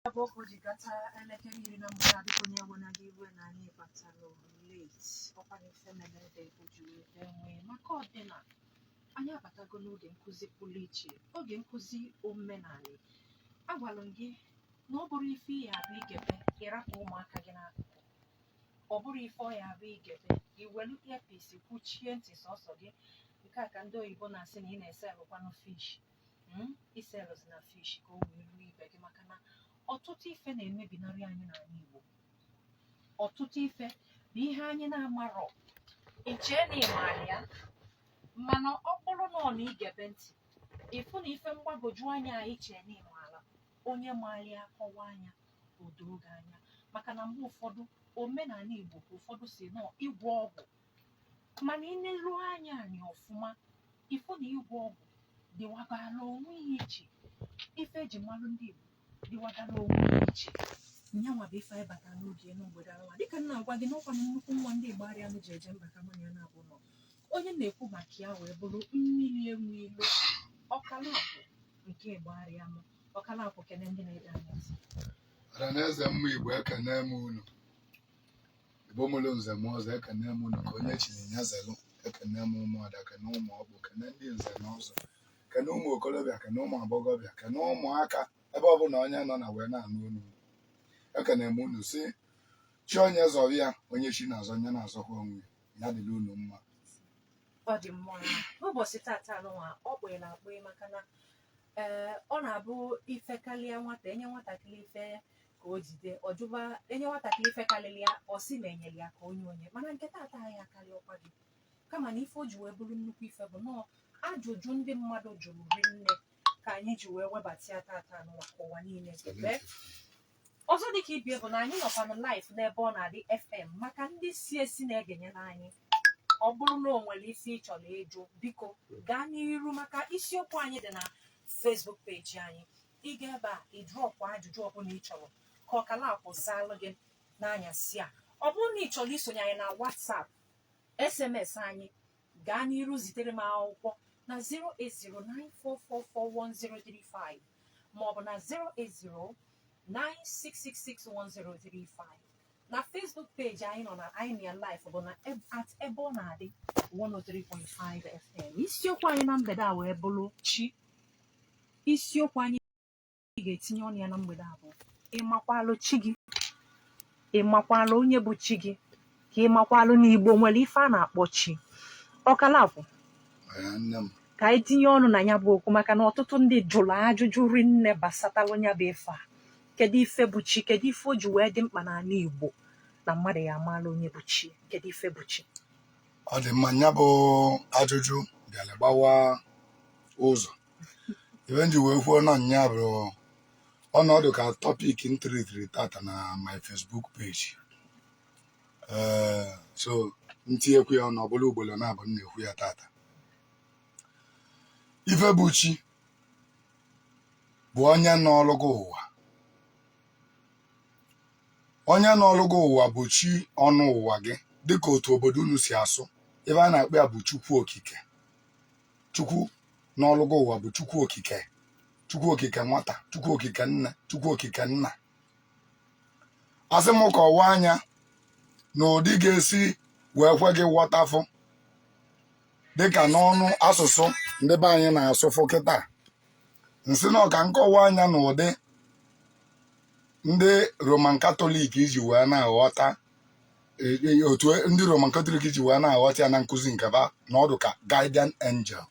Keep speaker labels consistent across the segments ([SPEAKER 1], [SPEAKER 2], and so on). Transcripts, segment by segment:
[SPEAKER 1] Ọ bụ ka o ji gata elekere iri na mgbede ka onye ewena gị iwe na anyị batara late ọkwa na ife mere ede o ji wee bee nwịị maka ọdịna anyị abatago n'oge nkụzi pụrụ iche oge nkụzi omenala agwara m gị na ọ bụrọ ife ya-abụ i gebe ị rapụ ụmụaka gị n'akụkụ ọ bụrọ ife ọ ya-abụ i gebe i welu earpiece kwuchie ntị sọsọ gị nke a ka ndị oyibo na-asị na ị na-eselụkwanụ fish mm, i selụzina fish ka o wee ruo ibe gị maka na ọtụtụ ife na-emebinarị anyị n'ala Igbo ọtụtụ ife bụ ihe anyị na-amarọ i chee na ị mara ya mana ọ bụrụ nnọọ na i gebe ntị ị fụ na ife mgbagwoju anya i chee na ị mara onye maara ya kọwaa nya o doo gị anya maka na mgbe ụfọdụ omenala Igbo ka ụfọdụ sị na ọ ịgwọ ọgwụ mana ị neru nya anya ọfụma ị fụ na ịgwọ ọgwụ dịwagara onwe ya iche ife e ji malụ ndị Igbo dịwagara onwe ya iche nyanwa bụ ife anyị batara n'oge n'obodo anwa dịka m na-agwa gị n'ọkwa na nnukwu nwa ndị Igbariam ji eje mba ka mụ na nya naabụ nọ onye na-ekwu maka ya wee bụrụ Mmiri Enweilo Okalakwu nke Igbariam Okalakwu kene ndị na-ege anyị ntị. Ọhaneze
[SPEAKER 2] mma Igbo ekene m unu Igbo mụlụ nze mụọ ọzọ ekene m unu ka onye chiri nya zelụ ekene m ụmụada kene ụmụ ọkpụ kene ndị nze na ọzọ kene ụmụ okorobịa kene ụmụ agbọghọbịa kene ụmụaka ebe ọbụla onye nọ na wee na-anụ olu ekene m unu sị chi onye zọrọ ya onye chi na-azọ nya na-azọkwa onwe ya dịrị unu mma ọ dị mma n'ụbọchị tata nụwa ọ kpụghị na
[SPEAKER 1] akpụghị maka na ee ọ na-abụ ife karịa nwata e nye nwatakịrị ife ka o jide ọ jụba e nye nwatakịrị ife karịrị ya ọ sị na e nyere ya ka o nye onye mana nke taata ya akarịrọkwa gị kama na ife o ji wee bụrụ nnukwu ife bụ na ọ ajụjụ ndị mmadụ jụrụ rinne ka anyị ji wee webata ya taata nụwa ka ụwa niile gebe ọzọ dị ka ibe ya bụ na anyị nọkwanụ live n'Ebeọnadị FM maka ndị si esi na-egenyere anyị ọ bụrụ na o nwere isi ị chọrọ ịjụ biko gaa n'iru maka isiokwu anyị dị na Facebook peji anyị ị ga ebe a ị drọpụ ajụjụ ọbụla ị chọrọ ka Okalakwu zaalụ gị n'anyasị a ọ bụrụ na ị chọrọ isonye anyị na WhatsApp SMS anyị gaa n'iru zitere m akwụkwọ na 08094441035 maọbụ na 08096661035 na Facebook peji anyị nọ na ya live bụ na eb- at Ebeọnadị 103.5 FM isiokwu anyị na mgbede a wee bụrụ chi isiokwu anyị ga-etinye ọnụ ya na mgbede a bụ ịmakwalụ chi gị ịmakwalụ onye bụ chi gị ka ịmakwalụ na igbo nwere ife a na-akpọ chi ọkala bụ ka anyị tinye ọnụ na nya bụ okwu maka na ọtụtụ ndị jụrụ ajụjụ rinne gbasatalụ nya bụ ife a kedu ife bụ chi kedu ife o ji wee dị mkpa n'ala igbo na mmadụ ya amaala onye bụ chi kedu ife bụ chi ọ dị mma
[SPEAKER 2] nya bụ ajụjụ bịara gbawa ụzọ ife nji wee kwuo na nya bụ ọ nọ ọdụ ka tọpik m tritiri tata na my Facebook page ee so ntinyekwu ya ọnụ ọ bụla ugboro naabọ m na-ekwu ya tata ife bụ chi bụ onye nọlụ gị ụwa onye nọlụ gị ụwa bụ chi ọnọ ụwa gị dịka otu obodo unu si asụ ife a na-akpọ ya bụ chukwu okike chukwu nọlụ gị ụwa bụ chukwu okike chukwu okike nwata chukwu okike nne chukwu okike nna asị m kọwaa nya n'ụdị ọ ga-esi wee kwe gị ghọtafụ dịka n'ọnụ asụsụ ndị be anyị na-asụfụ kịta nsị na ọ ka nkọwaa nya n'ụdị ndị roman katọlik iji wee na-aghọta E, e, otu ndị Roman Katọlik ji wee na-aghọta ya na nkụzi nke ba nọ ọdụ ka guardian angel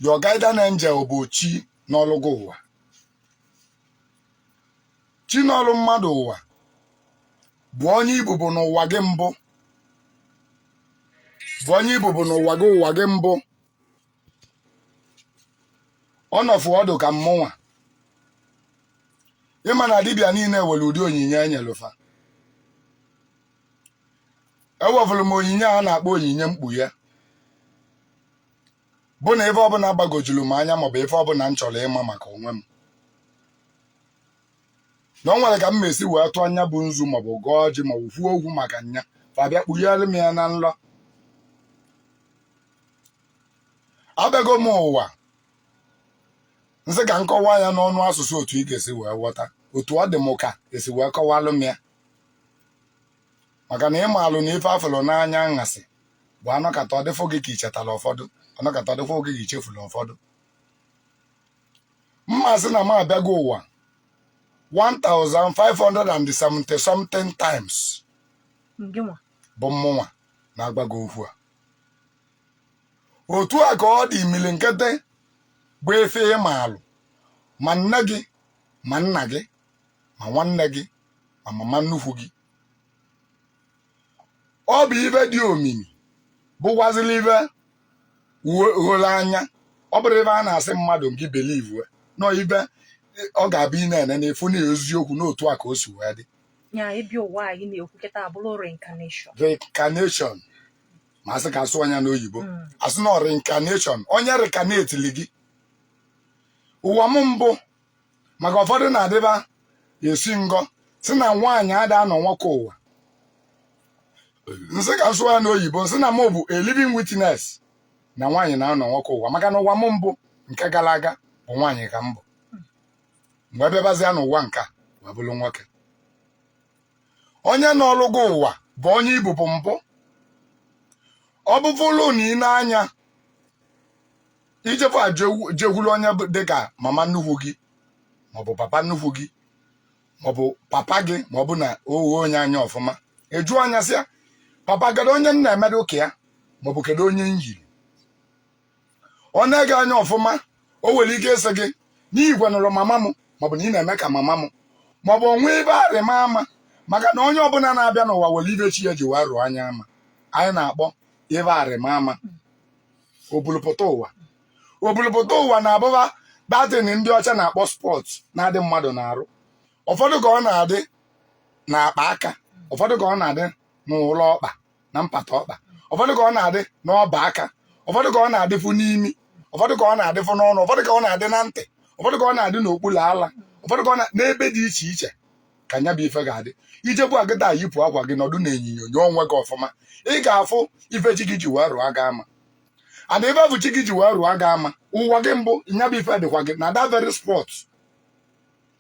[SPEAKER 2] your guardian angel bụ chi nọlụ gị ụwa chi nọlụ mmadụ ụwa bụ onye ị bụbu n'ụwa gị mbụ bụ onye ị bụbu n'ụwa gị ụwa gị mbụ ọ nọfụ ọdụ ka mmụnwa ị ma na dibịa niile nwere ụdị onyinye e nyelu fa enwefụrụ m onyinye a na-akpọ onyinye mkpughe bụ na ife ọbụla gbagojuru m anya maọbụ ife ọbụla m chọrọ ịma maka onwe m na ọ nwere ka m esi wee tụọ nya bụ nzu maọbụ gọọ ọjị maọbụ kwuo okwu maka nya fa bịa kpughere m ya na nlọ abịago m ụwa nsị ka m kọwaa ya n'ọnụ asụsụ otu ị ga-esi wee ghọta otu ọ dị m ka e si wee kọwalụ m ya maka na ị maalụ na ife a fụlụ n'anyasị bụ a nọkata ọ dịfụ gị ka i chetara ụfọdụ a nọkata ọ dịfụ gị ka i chefuru ụfọdụ ma a sị na m abịago ụwa 1570 something times gịnwa bụ mmụnwa na-agwa gị okwu a otu a ka ọ dị mmili nkịtị bụ efe ịma alụ ma nne gị ma nna gị ma nwanne gị ma mama nnukwu gị ọ bụ ive dị omimi bụkwazịla ive gholo anya ọ bụrọ ive a na-asị mmadụ ngị believe na ọ ive ọ ga-abụ ị na-ene na-afụ na eziokwu na otu a ka o si wee dị ya ịbịa ụwa anyị na-ekwuketa abụrụ reincarnation reincarnation ma a sị ka a sụa nya n'oyibo hmm. a sị na reincarnation onye reincarnateli gị ụwa m mbụ maka ụfọdụ na-adịba esi ngọ sị na nwaanyị ada anọ nwoke ụwa n sị ka n sụa nya n'oyibo n sị na m bụ a living witness na nwaanyị na-anọ nwoke ụwa maka na ụwa m mbụ nke gara aga bụ nwaanyị ka m bụ m wee bịabazịa n'ụwa nke a wee bụrụ nwoke onye nọrụ gị ụwa bụ onye ị bụbu mbụ ọ bụbụrụ na i nee anya i jefu a jewu- jekwuru onye bụ- dị ka mama nnukwu gị maọbụ papa nnukwu gị maọbụ papa gị maọbụ na o ghe onye anya ọfụma ajụa nya sịa papa kedu onye m na-emedu ka ya maọbụ kedu onye m yiri o nee gị anya ọfụma o nwere ike ịsị gị na i yikwanụrụ mama m maọbụ na ị na-eme ka mama m maọbụ o nwee ive arịma ama maka na onye ọbụla na-abịa n'ụwa nwere ive chi ya ji wee rụa nya ama anyị na-akpọ ive arịma ama obulupụta ụwa obulupụta ụwa na-abụba that thing ndị ọcha na-akpọ spot na-adị mmadụ n'arụ ụfọdụ ka ọ na-adị n'akpa aka ụfọdụ ka ọ na-adị n'ụlọ ọkpa na mpata ọkpa ụfọdụ ka ọ na-adị n'ọba aka ụfọdụ ka ọ na-adịfụ n'imi ụfọdụ ka ọ na-adịfụ n'ọnụ ụfọdụ ka ọ na-adị na ntị ụfọdụ ka ọ na-adị n'okpuru ala ụfọdụ ka ọ na n'ebe dị iche iche ka nya bụ ife ga-adị i jebe kịta yipụ akwa gị nọdụ na enyinyo nyoo onwe gị ọfụma ị ga-afụ ife chi gị ji wee rụọ gị ama and ife bụ chi gị ji wee rụọ gị ama ụwa gị mbụ nya bụ ife dịkwa gị na that very spot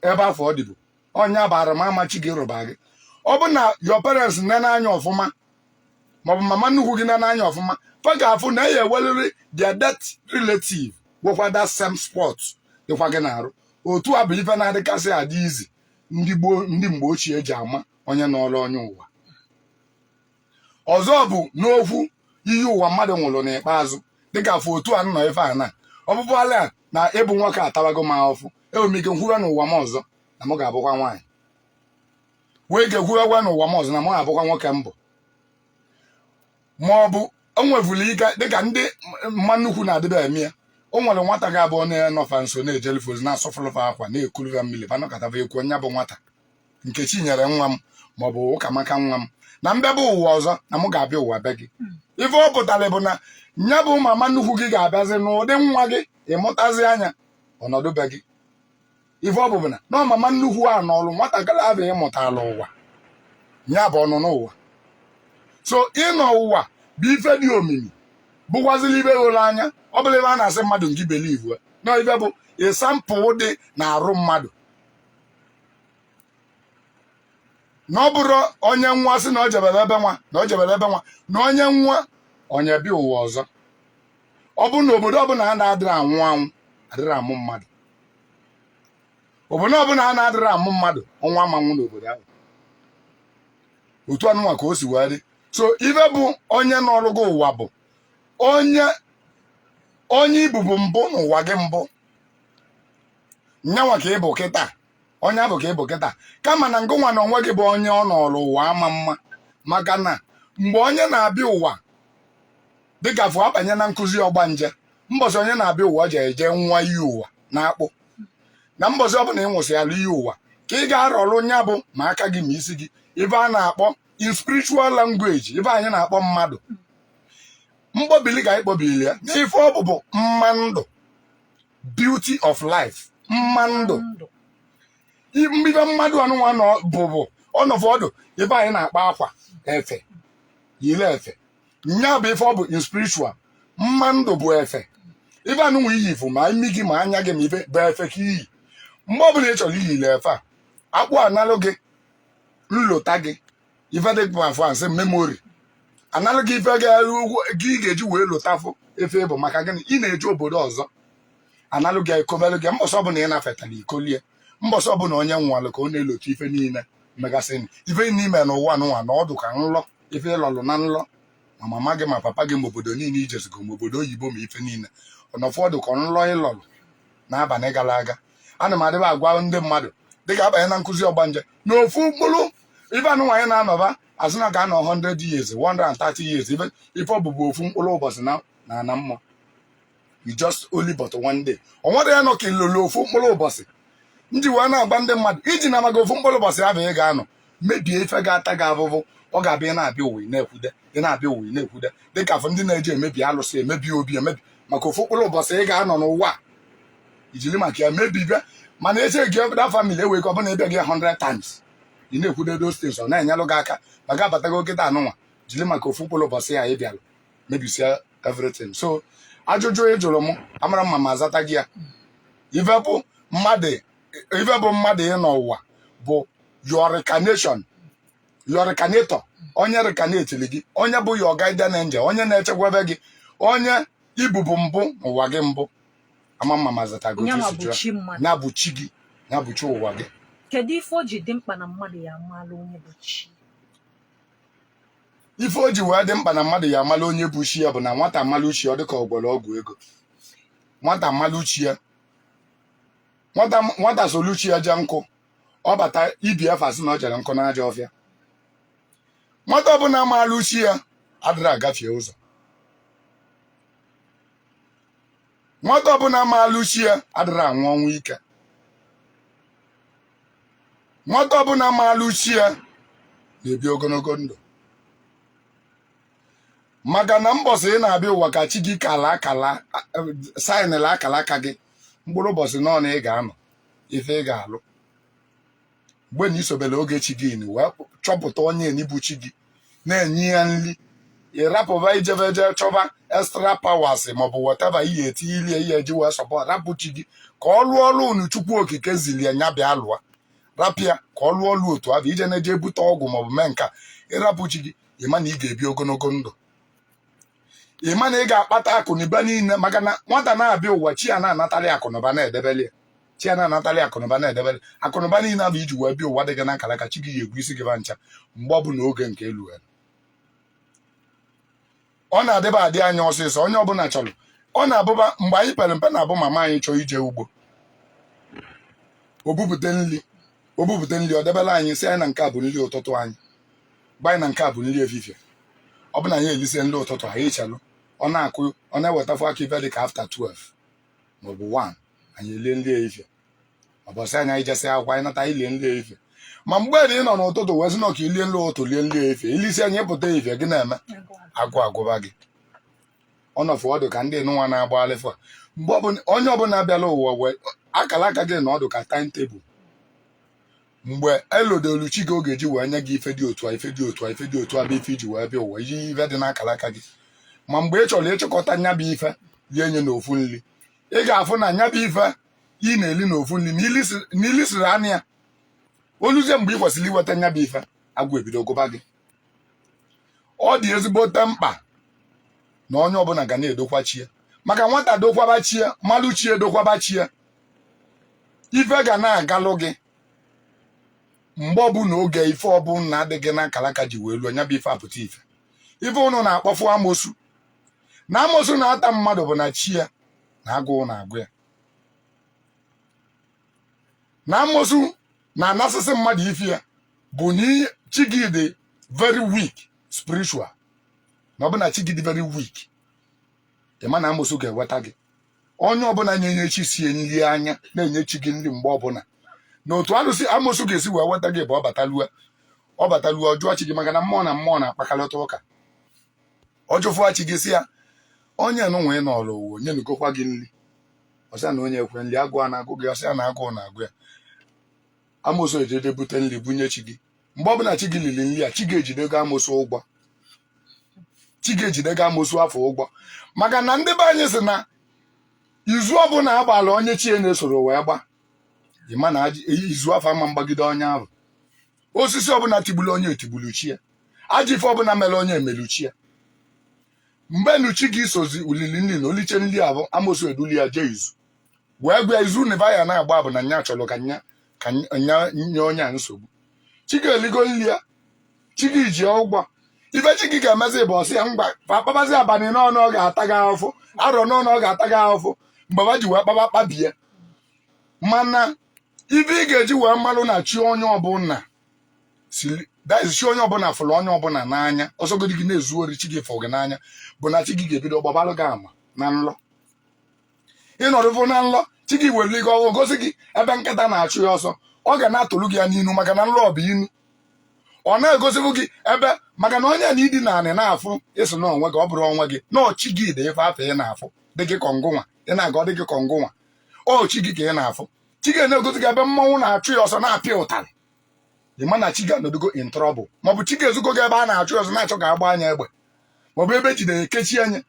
[SPEAKER 2] ebe afụ ọ dịbu ọ nya bụ arụmama chi gị rụba gị ọ bụ na your parents nene anya ọfụma maọbụ mama nnukwu gị nene anya ọfụma fa ga-afụ na a ya-enweriri their dead relative nwekwa that same spot dịkwa gị n'arụ otu a bụ ife na-adịkasị adị easy ndị gboo ndị mgbe ochie ji ama onye nọrọ onye ụwa ọzọ bụ n'okwu iyi ụwa mmadụ nwụrụ n'ikpeazụ dịka a fụ otu a nọ ife a na ọ bụbụ ala a na ịbụ nwoke atabago m ahụfụ enwere m ike nkwuwe n'ụwa m ọzọ na m ga-abụkwa nwaanyị nwee ike kwuwekwa n'ụwa m ọzọ na m ga-abụkwa nwoke m bụ ma ọ bụ o nwevụrụ ike dịka ndị mama nnukwu na-adịba eme ya o nwere nwata ga-abụ onye nọ fa nso na-ejeli fa ozi na-asụfụlụ fa akwa na-ekulu fa mmiri ba nọkọtava ekwu onye bụ nwata nkechinyere nwa m ma ọ bụ ụkamaka nwa m na m bịaba ụwa ọzọ na mụ ga-abịa ụwa be gị ife ọ pụtara bụ na nya bụ mama nnukwu gị ga-abịazi n'ụdị nwa gị ị mụtazia nya ọ nọdụ be gị ife ọ bụ bụ na mama nnukwu a nọọrụ nwatakịrị afụ ị mụtala ụwa ya bụ ọnụnọ ụwa so ịnọ ụwa bụ ife dị omimi bụkwazili ife gholo anya ọ bụrọ ife a na-asị mmadụ nke believe na ife bụ example dị n'arụ mmadụ na ọ bụrọ onye nwa sị na o jebere ebe nwa na o jebere ebe nwa na onye nwa onye bịa ụwa ọzọ ọ bụrụ na obodo ọbụla a na-adịrị anwụ anwụ adịrị amụ mmadụ obodo ọbụla a na-adịrị amụ mmadụ ọnwụ ama nwụ n'obodo ahụ otu anụnwa ka o si wee dị so ife bụ onye nọọlụ gị ụwa bụ onye onye ị bụbu mbụ n'ụwa gị mbụ nyanwa ka ị bụ kịta onye afụ ka ị bụ kịta kama na ngịnwa n'onwe gị bụ onye ọ nọọrụ ụwa ama ama maka na mgbe onye na-abịa ụwa dịka afụ a banye na nkuzi ọgbanje mbọsị onye na-abịa ụwa ji eje ṅụa iyi ụwa na akpụ na mbọsị ọ bụla ị ṅụsịala iyi ụwa ka ị ga-arọrụ nya bụ ma aka gị ma isi gị ife a na-akpọ in spiritual language ife anyị na-akpọ mmadụ mkpọbili ka anyị kpọbili ya n'ife ọ bụ bụ mma ndụ beauty of life mma ndụ mbibe mmadụ anụnwa bụ bụ ọ nọfụ ọ dụ ife anyị na-akpọ akwa efe yiri efe nya bụ ife ọ bụ in spiritual mma ndụ bụ efe ife anụnwa i yi bụ ma imi gị ma anya gị ma ife bụ efe ka i yi mgbe ọbụla ị chọrọ iyiri efe a akpụ analụ gị nlota gị ife ndị be fa na-asị memory analụ gị ife gị ga-eji wee lotafụ ife ị bụ maka gịnị ị na-eje obodo ọzọ analụ gị e kobelụ gị mbọsị ọbụla ị nafetara i kolie mbọsị ọbụla onye nwalụ ka ọ na-elota ife niile megasị ife niile n'ụwa n'ụwa na ọ dụ ka nlọ ife ị lọlụ na nlọ ma mama gị ma papa gị ma obodo niile i jezigo ma obodo oyibo ma ife niile ọ nọfụ ọ dụ ka nlọ ị lọlụ n'abalị gara aga ana m adịba agwa ndị mmadụ dịka a banye na nkuzi ọgbanje na ofu mkpụrụ ife anụnwa anyị na-anọba a sị na a ga-anọ 100 years 130 years ife ọ bụ bụ ofu mkpụrụ ụbọchị n'ana mmụọ you just only but one day ọ nwere ya nọ ka ilolo ofu mkpụrụ ụbọchị m ji wee na-agwa ndị mmadụ ejina maka ofu mkpụrụ ụbọchị afụ ị ga-anọ mebie ife ga-ata gị afụfụ ọ ga-abịa ị na-abịa ụwa ị na-akwụde ị na-abịa ụwa ị na-akwụde dịka afụ ndị na-eji emebi alụsị emebi obi emebi maka ofu mkpụrụ ụbọchị ị ga-anọ n'ụwa a, i jiri maka ya mebibe mana eche gị ọbụda family ewee ka ọbụna ịbịa gị 100 times ị na-ekwude those things ọ na-enyelụ gị aka maka abatago kịta a nụnwa jiri maka ofu mkpụrụ ụbọchị ya ị bịara mebisia everything so ajụjụ ị jụrụ m amara mma m azata gị ya ife bụ mmadụ ife bụ mmadụ ịnọ ụwa bụ your reincarnation your reincarnator onye reincarnatili gị onye bụ your guardian angel onye na-echekwebe gị onye ị bụbu mbụ n'ụwa gị mbụ ama mma m azata gị nyanwa bụ chi mmadụ ya bụ chi gị ya bụ chi ụwa gị kedu ife o ji
[SPEAKER 1] dị mkpa na mmadụ ya amala onye bụ
[SPEAKER 2] chi ife o ji wee dị mkpa na mmadụ ya amala onye bụ chi ya bụ na nwata malụ chi ya ọ dịka ọ gwọrọ ọgwụ ego nwata malụ chi ya nwata nwata solu chi ya jee nkụ ọ bata ibe ya fa sị na ọ jere nkụ n'ajọ ọfịa nwata ọbụla maalụ chi ya adịrọ agafie ụzọ nwata ọbụla maalụ chi ya adịrọ anwụ ọnwụ ike nwata ọbụla maalụ chi ya na-ebi ogologo ndụ maka na mbọsị ị na-abịa ụwa ka chi gị kala akala saịnịla akala aka gị mkpụrụ ụbọchị nọ na ị ga-anọ ife ị ga-alụ mgbe na i sobere oge chi gị ni wee chọpụta onye ni bụ chi gị na-enye ya nri ị rapụba ijebe je chọba extra powers maọbụ whatever ihe etinye ilie ihe e ji wee support rapụ chi gị ka ọ lụọ ọrụ nụ chukwu okike ziri ya nya bịa lụọ rapụ ya ka ọ lụọ ọrụ otu ahụ ije na-eje ebute ọgwụ maọbụ mee nke a ị rapụ chi gị ị ma na ị ga-ebi ogologo ndụ ị ma na ị ga-akpata akụnụba niile maka na nwata na-abịa ụwa chi ya na-anatalị ya akụnụba na-edebeli ya chi ya na-anatalị ya akụnụba na-edebere akụnụba niile afụ i ji wee bịa ụwa dị gị na akara aka chi gị ya egwu isi gị ba ncha mgbe ọ bụla oge nke elu elu ọ na-adịba adị anya ọsịsọ onye ọbụla chọrọ ọ na-abụba mgbe anyị pere mpe na-abụ mama anyị chọọ ije ugbo o bupụta nri o bupụta nri o debere anyị sị anyị na nke a bụ nri ụtụtụ anyị gwa anyị na nke a bụ nri efifie ọ bụ na anyị elisie nri ụtụtụ anyị chelụ ọ na-akụ ọ na-ewetafụ aka ife dị ka after 12 maọbụ 1 anyị elie nri efifie mbọsị anyị anyị jesị akwụkwọ anyị nata elie nri efifie ma mgbe na ị nọ n'ụtụtụ wee sị na ka i lie nri ụtụtụ lie nri efifie i lisia nya pụta efifie gịnị eme agụụ agụba gị ọnọfụ ọ dụ ka ndị nụnwa na-agba alịfa mgbe ọbụla onye ọbụla bịara ụwa wee akara aka gị na ọ dụ ka time table mgbe elodelu chi gị oge o ji wee nye gị ife dị otu a ife dị otu a ife dị otu a bụ ife i ji wee bịa ụwa iji ife dị n'akara aka gị ma mgbe ị chọrọ ịchịkọta nya bụ ife rie nya n'ofu nri ị ga-afụ na nya bụ ife ị na-eli n'ofu nri na i lisiri nya o luzie mgbe ị kwesịrị iweta nya bụ ife agụụ ebido gụba gị ọ dị ezigbote mkpa na onye ọbụla ga na-edokwa chi ya maka nwata dokwaba chi ya malụ chi ya dokwaba chi ya ife ga na-agalụ gị mgbe ọbụla oge ife ọbụla dị gị na akalaka ji wee luo nya bụ ife apụta ife ife unu na-akpọfu amosu na amosu na-ata mmadụ bụ na chi ya na agụụ na-agụ ya na amosu na-anasịsị mmadụ ife ya bụ na chi gị dị very weak spiritual na ọ bụ na chi gị dị very weak ị ma na amosu ga-eweta gị onye ọbụla na-enyechisie nri anya na-enye chi gị nri mgbe ọbụla na otu alụsị amosu ga-esi wee weta gị bụ ọ batalue ọ batalue ọ jụọ chi gị maka na mmụọ na mmụọ na-akpakọlịta ụka ọ jụfụa chi gị sị ya onye nụnwa ị nọrọ ụwa o nyenugokwa gị nri ọ sị ya na onye ekwe nri agụụ na-agụ gị ọ sị ya na agụụ na-agụ ya amosu eje je bute nri bunye chi gị mgbe ọbụla chi gị liri nri a chi gị ejidego amosu ụgwọ chi gị ejidego amosu afụ ụgwọ maka na ndị be anyị sị na izu ọbụla a gbaalụ onye chi ya na-esoro wee gba ị ma na ajị- eyi izu afụ ama mgbagide onye ahụ osisi ọbụla tigburu onye etigburu chi ya ajọ ife ọbụla mere onye emelu chi ya mgbe nu chi gị sozi o lili nri na o lichee nri afụ amosu edulu ya jee izu wee gwa izu n'eba a na-agba bụ na nya chọrọ ka nya ka nya nye onye a nsogbu chi gị eligo nri ya chi gị ji ụgwọ ife chi gị ga-emezi bụ ọ sị ya ngwa fa akpabazi abalị one ọ ga-ata gị ahụfụ arọ one ọ ga-ata gị ahụfụ mgbe fa ji wee kpaba kpabie mana ife ị ga-eji wee malụ na chi onye ọbụla sili daiz chi onye ọbụla fụrụ onye ọbụla n'anya ọ sọgodị gị na-ezu ori chi gị fụrụ gị n'anya bụ na chi gị ga-ebido gbabara gị ama na nlọ ị nọdụvụ na nlọ chi gị were nlọ ahụ gosi gị ebe nkịta na-achụ ya ọsọ ọ ga na-atụrụ gị ya n'inu maka na nlọ bụ inu ọ na-egosibụ gị ebe maka na onye na idi na nya ị na-afụ ị sị na onwe gị ọ bụrọ onwe gị na ọ chi gị dị ife afụ ị na-afụ dị gị ka ọ ngịnwa ị na-aga ọ dị gị ka ọ ngịnwa ọ chi gị ka ị na-afụ chi gị na-egosi gị ebe mmanwụ na-achụ ya ọsọ na-apịa ụtarị ị ma na chi gị anọdụgo in trouble maọbụ chi gị ezigo gị ebe a na-achụ ya ọsọ na-achọ ka a gbaa nya egbe maọbụ ebe e jidere e kechie nya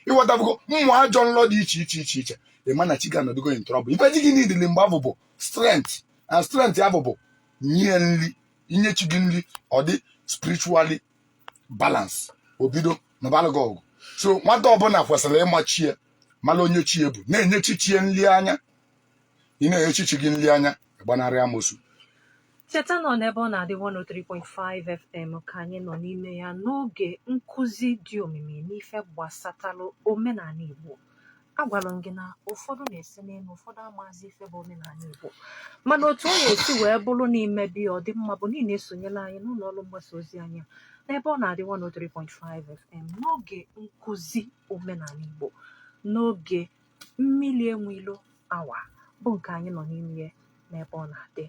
[SPEAKER 2] ị ghọtafugo mmụ ajọ nlọ dị iche iche iche iche ị ma na chi gị anọdụgo in trouble ife chi gị needili mgbe afụ bụ strength and strength ya bụ bụ nye nri inye chi gị nri ọ dị spiritually balance o bido nụbalụ gị ọgụ so nwata ọbụla kwesịrị ịma chi ya mara onye chi ya bụ na-enyechi chi ya nri anya ị na-enyechi chi gị nri anya gbanarị amosu
[SPEAKER 1] cheta na ọ n'Ebeonadi 103.5 FM ka anyị nọ n'ime ya n'oge nkụzi dị omimi n'ife gbasatalụ omenala Igbo agwara m gị na ụfọdụ na-ese n'elu ụfọdụ amazi ife bụ omenala Igbo mana otu ọ ga-esi wee bụrụ na i mebe ya ọ dị mma bụ na ị na-esonyere anyị n'ụlọ ọrụ mgbasa ozi anyị a, n'Ebeonadi 103.5 FM n'oge nkụzi omenala Igbo n'oge mmili enwe ilo awa bụ nke anyị nọ n'ime ya n'ebe ọ na-adị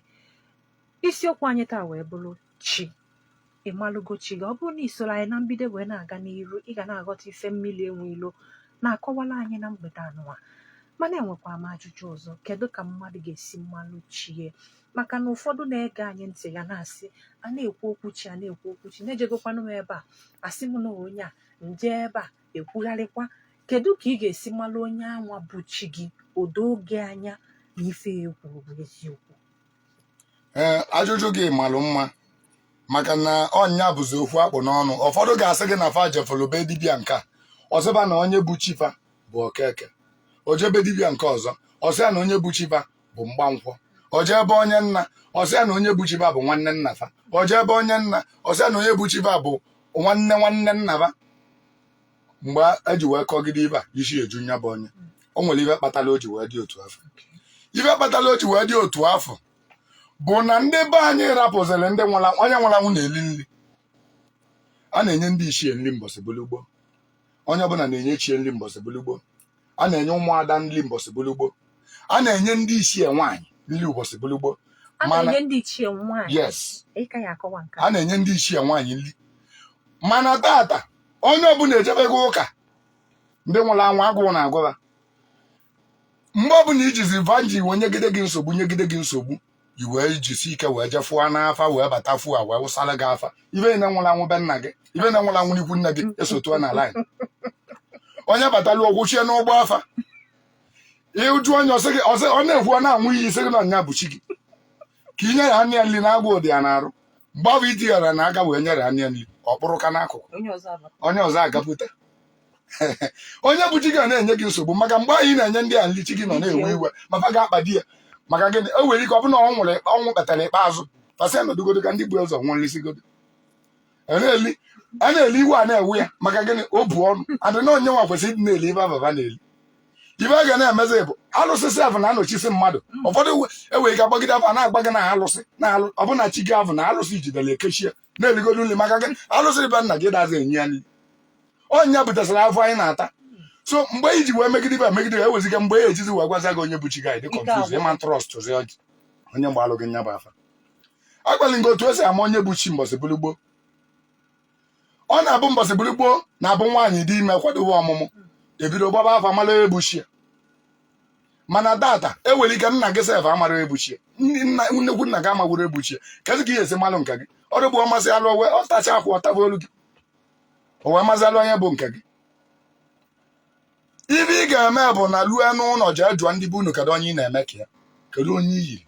[SPEAKER 1] isiokwu anyị taa wee bụrụ chi ị malụgo chi gị ọ bụrụ na i soro anyị na mbido wee na-aga n'iru ị ga na-aghọta ife mmili enwe ilo na-akọwala anyị na mgbede anụwa mana enwekwa m ajụjụ ọzọ kedu ka mmadụ ga-esi malụ chi e maka na ụfọdụ na-ege anyị ntị ga na-asị a na-ekwu okwu chi a na-ekwu okwu chi na ejegokwanụ m ebe a a sị m na onye a m je ebe a e kwugharịkwa kedu ka ị ga-esi malụ onye anwa bụ chi gị o doo gị anya na ife e kwuru bụ eziokwu
[SPEAKER 2] ee ajụjụ gị malụ mma maka na ọ nya bụzi okwu a kpụ n'ọnụ ụfọdụ ga-asị gị na fa jefụrụ be dibịa nke a ọ sị va na onye bụ chi va bụ Okeke o je be dibịa nke ọzọ ọ sị ya na onye bụ chi va bụ Mgbankwọ o je be onye nna ọ sị ya na onye bụ chi va bụ nwanne nna fa o je be onye nna ọ sị ya na onye bụ chi va bụ nwanne nwanne nna fa mgbe e ji wee kọgide ive a isi eju nya bụ onye o nwere ive kpatara o ji wee dị otu afụ ive kpatara o ji wee dị otu afụ bụ na ndị be anyị rapụziri na onye nwụrụ anwụ na-eli nri a na-enye ndị ichie nri mbọsị bụlụ gboo onye ọbụla na-enye chi e nri mbọsị bụlụ gboo a na-enye ụmụada nri mbọsị bụlụ gboo a na-enye ndị ichie nwaanyị nri ụbọsị bụlụ gboo a mana na-enye ndị
[SPEAKER 1] ichie nwaanyị yes ị ka ya-akọwa nke a a na-enye ndị ichie nwaanyị nri mana tata onye ọbụla ejebego ụka ndị nwụrụ anwụ agụụ na-agụ va mgbe ọbụla i jizi va ji wee nyegide gị nsogbu nyegide gị nsogbu i wee jisi ike wee jefụọ n'afa wee bata fuo a wee wụsara gị afa ive nwụrụ anwụ be nna gị ive nwụrụ anwụ n'ikwu nne gị esotuo na line onye batara ọ kwụchie n'ụgbọ afa ị jụọ onye ọ sị gị ọ sị- ọ na-ekwu ọ na-anwụ iyi sị gị na nya bụ chi gị ka i nyere nya nri na agwa ụdị ya na-arụ mgbe ahụ iti ya na aka wee nyere nya nri ọ kpụrụ ka n'akụkụ onye ọzọ abata onye ọzọ agapụta onye bụ chi gị ọ na-enye gị nsogbu maka mgbe anyị na-enye ndị a nri chi gị nọ na-ewe iwe ma fa ga-akpa di ya maka gịnị o nwere ike ọ bụ na ọ nwụrụ ọnwụ kpetara ikpeazụ fa sị ya nọdụgodo ka ndị bu ụzọ nwụọ risigodo a na-eli iwe a na-ewe ya maka gịnị o bu ọnụ adịna onye nwa kwesịrị ịdị na-eli ive ababa na-eli ive a ga na-emezi bụ alụsị sef na-anọchisi mmadụ mm. ụfọdụ e nwere ike a gbagide afa na-agba gị na alụsị na alụ ọ bụ na chi gị afụ na alụsị jidere e kechie na-eligodo nri maka gị alụsị be nna gị adazị enye ya nri ọ nya butasịrị afụfụ anyị na-ata so mgbe i ji wee megide ive megide e weziga mgbe ya ejizi wee gwaza gị onye bụ chi gị ị dị confuse ị ma trust onye gbaalụ gị nya bụ afa agwala gị otu esi ama onye bụ chi mbọsị bụrụ gboo ọ na-abụ mbọsị bụrụ gboo na-abụ nwaanyị dị ime kwadobe ọmụmụ ebido gbaba afa mara onye bụ chi ya mana taata o nwere ike nna gị sef amarọ onye bụ chi ya ndị nna nnukwu nna gị amakwurọ onye bụ chi ya kedu ka ị ya-esi malụ nke gị ọ dịbụ ọmasị alụ owe ọ tacha akwụ ọtaba olu gị o wee mazị alụ onye bụ nke
[SPEAKER 2] gị ife ị ga-eme bụ naa lue n'ụlọ jee jụọ ndị be unu kedu onye ị na-eme ka ya kedu onye i yiri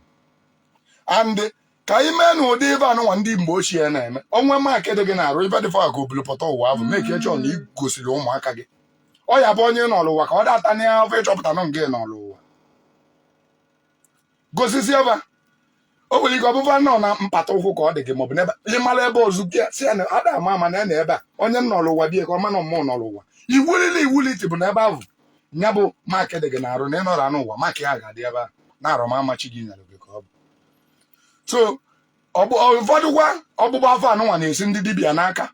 [SPEAKER 2] and ka ị ma na ụdị ife anụnwa ndị mgbe ochie na-eme o nwee mark dị gị n'arụ ife dịfọ ka o bulu pụta ụwa ahụ make sure na ị gosiri ụmụaka gị ọ ya-abụ onye nọlụ ụwa ka ọ data na ahụ ị chọpụta na ọ nke nọlụ ụwa gosisi ebe a. o nwere ike ọ bụba na ọ na mpata ụkwụ ka ọ dị gị maọbụ n'ebe ị mara ebe ọzọ gosi ya na ada ama ama na ya na ebe a onye nọlụ ụwa dị ya ka ọ ma na ọ mụ nọlụ ụwa iwulile iwulite bụ na ebe ahụ nya bụ mark dị gị n'arụ na ị nọrọ anụ ụwa mark a ya ga-adị ebe a n'arụ amama chi gị nyere gị ka ọ bụ so ụfọdụkwa ọgbụgba afa anụnwa na-esi ndị dibịa n'aka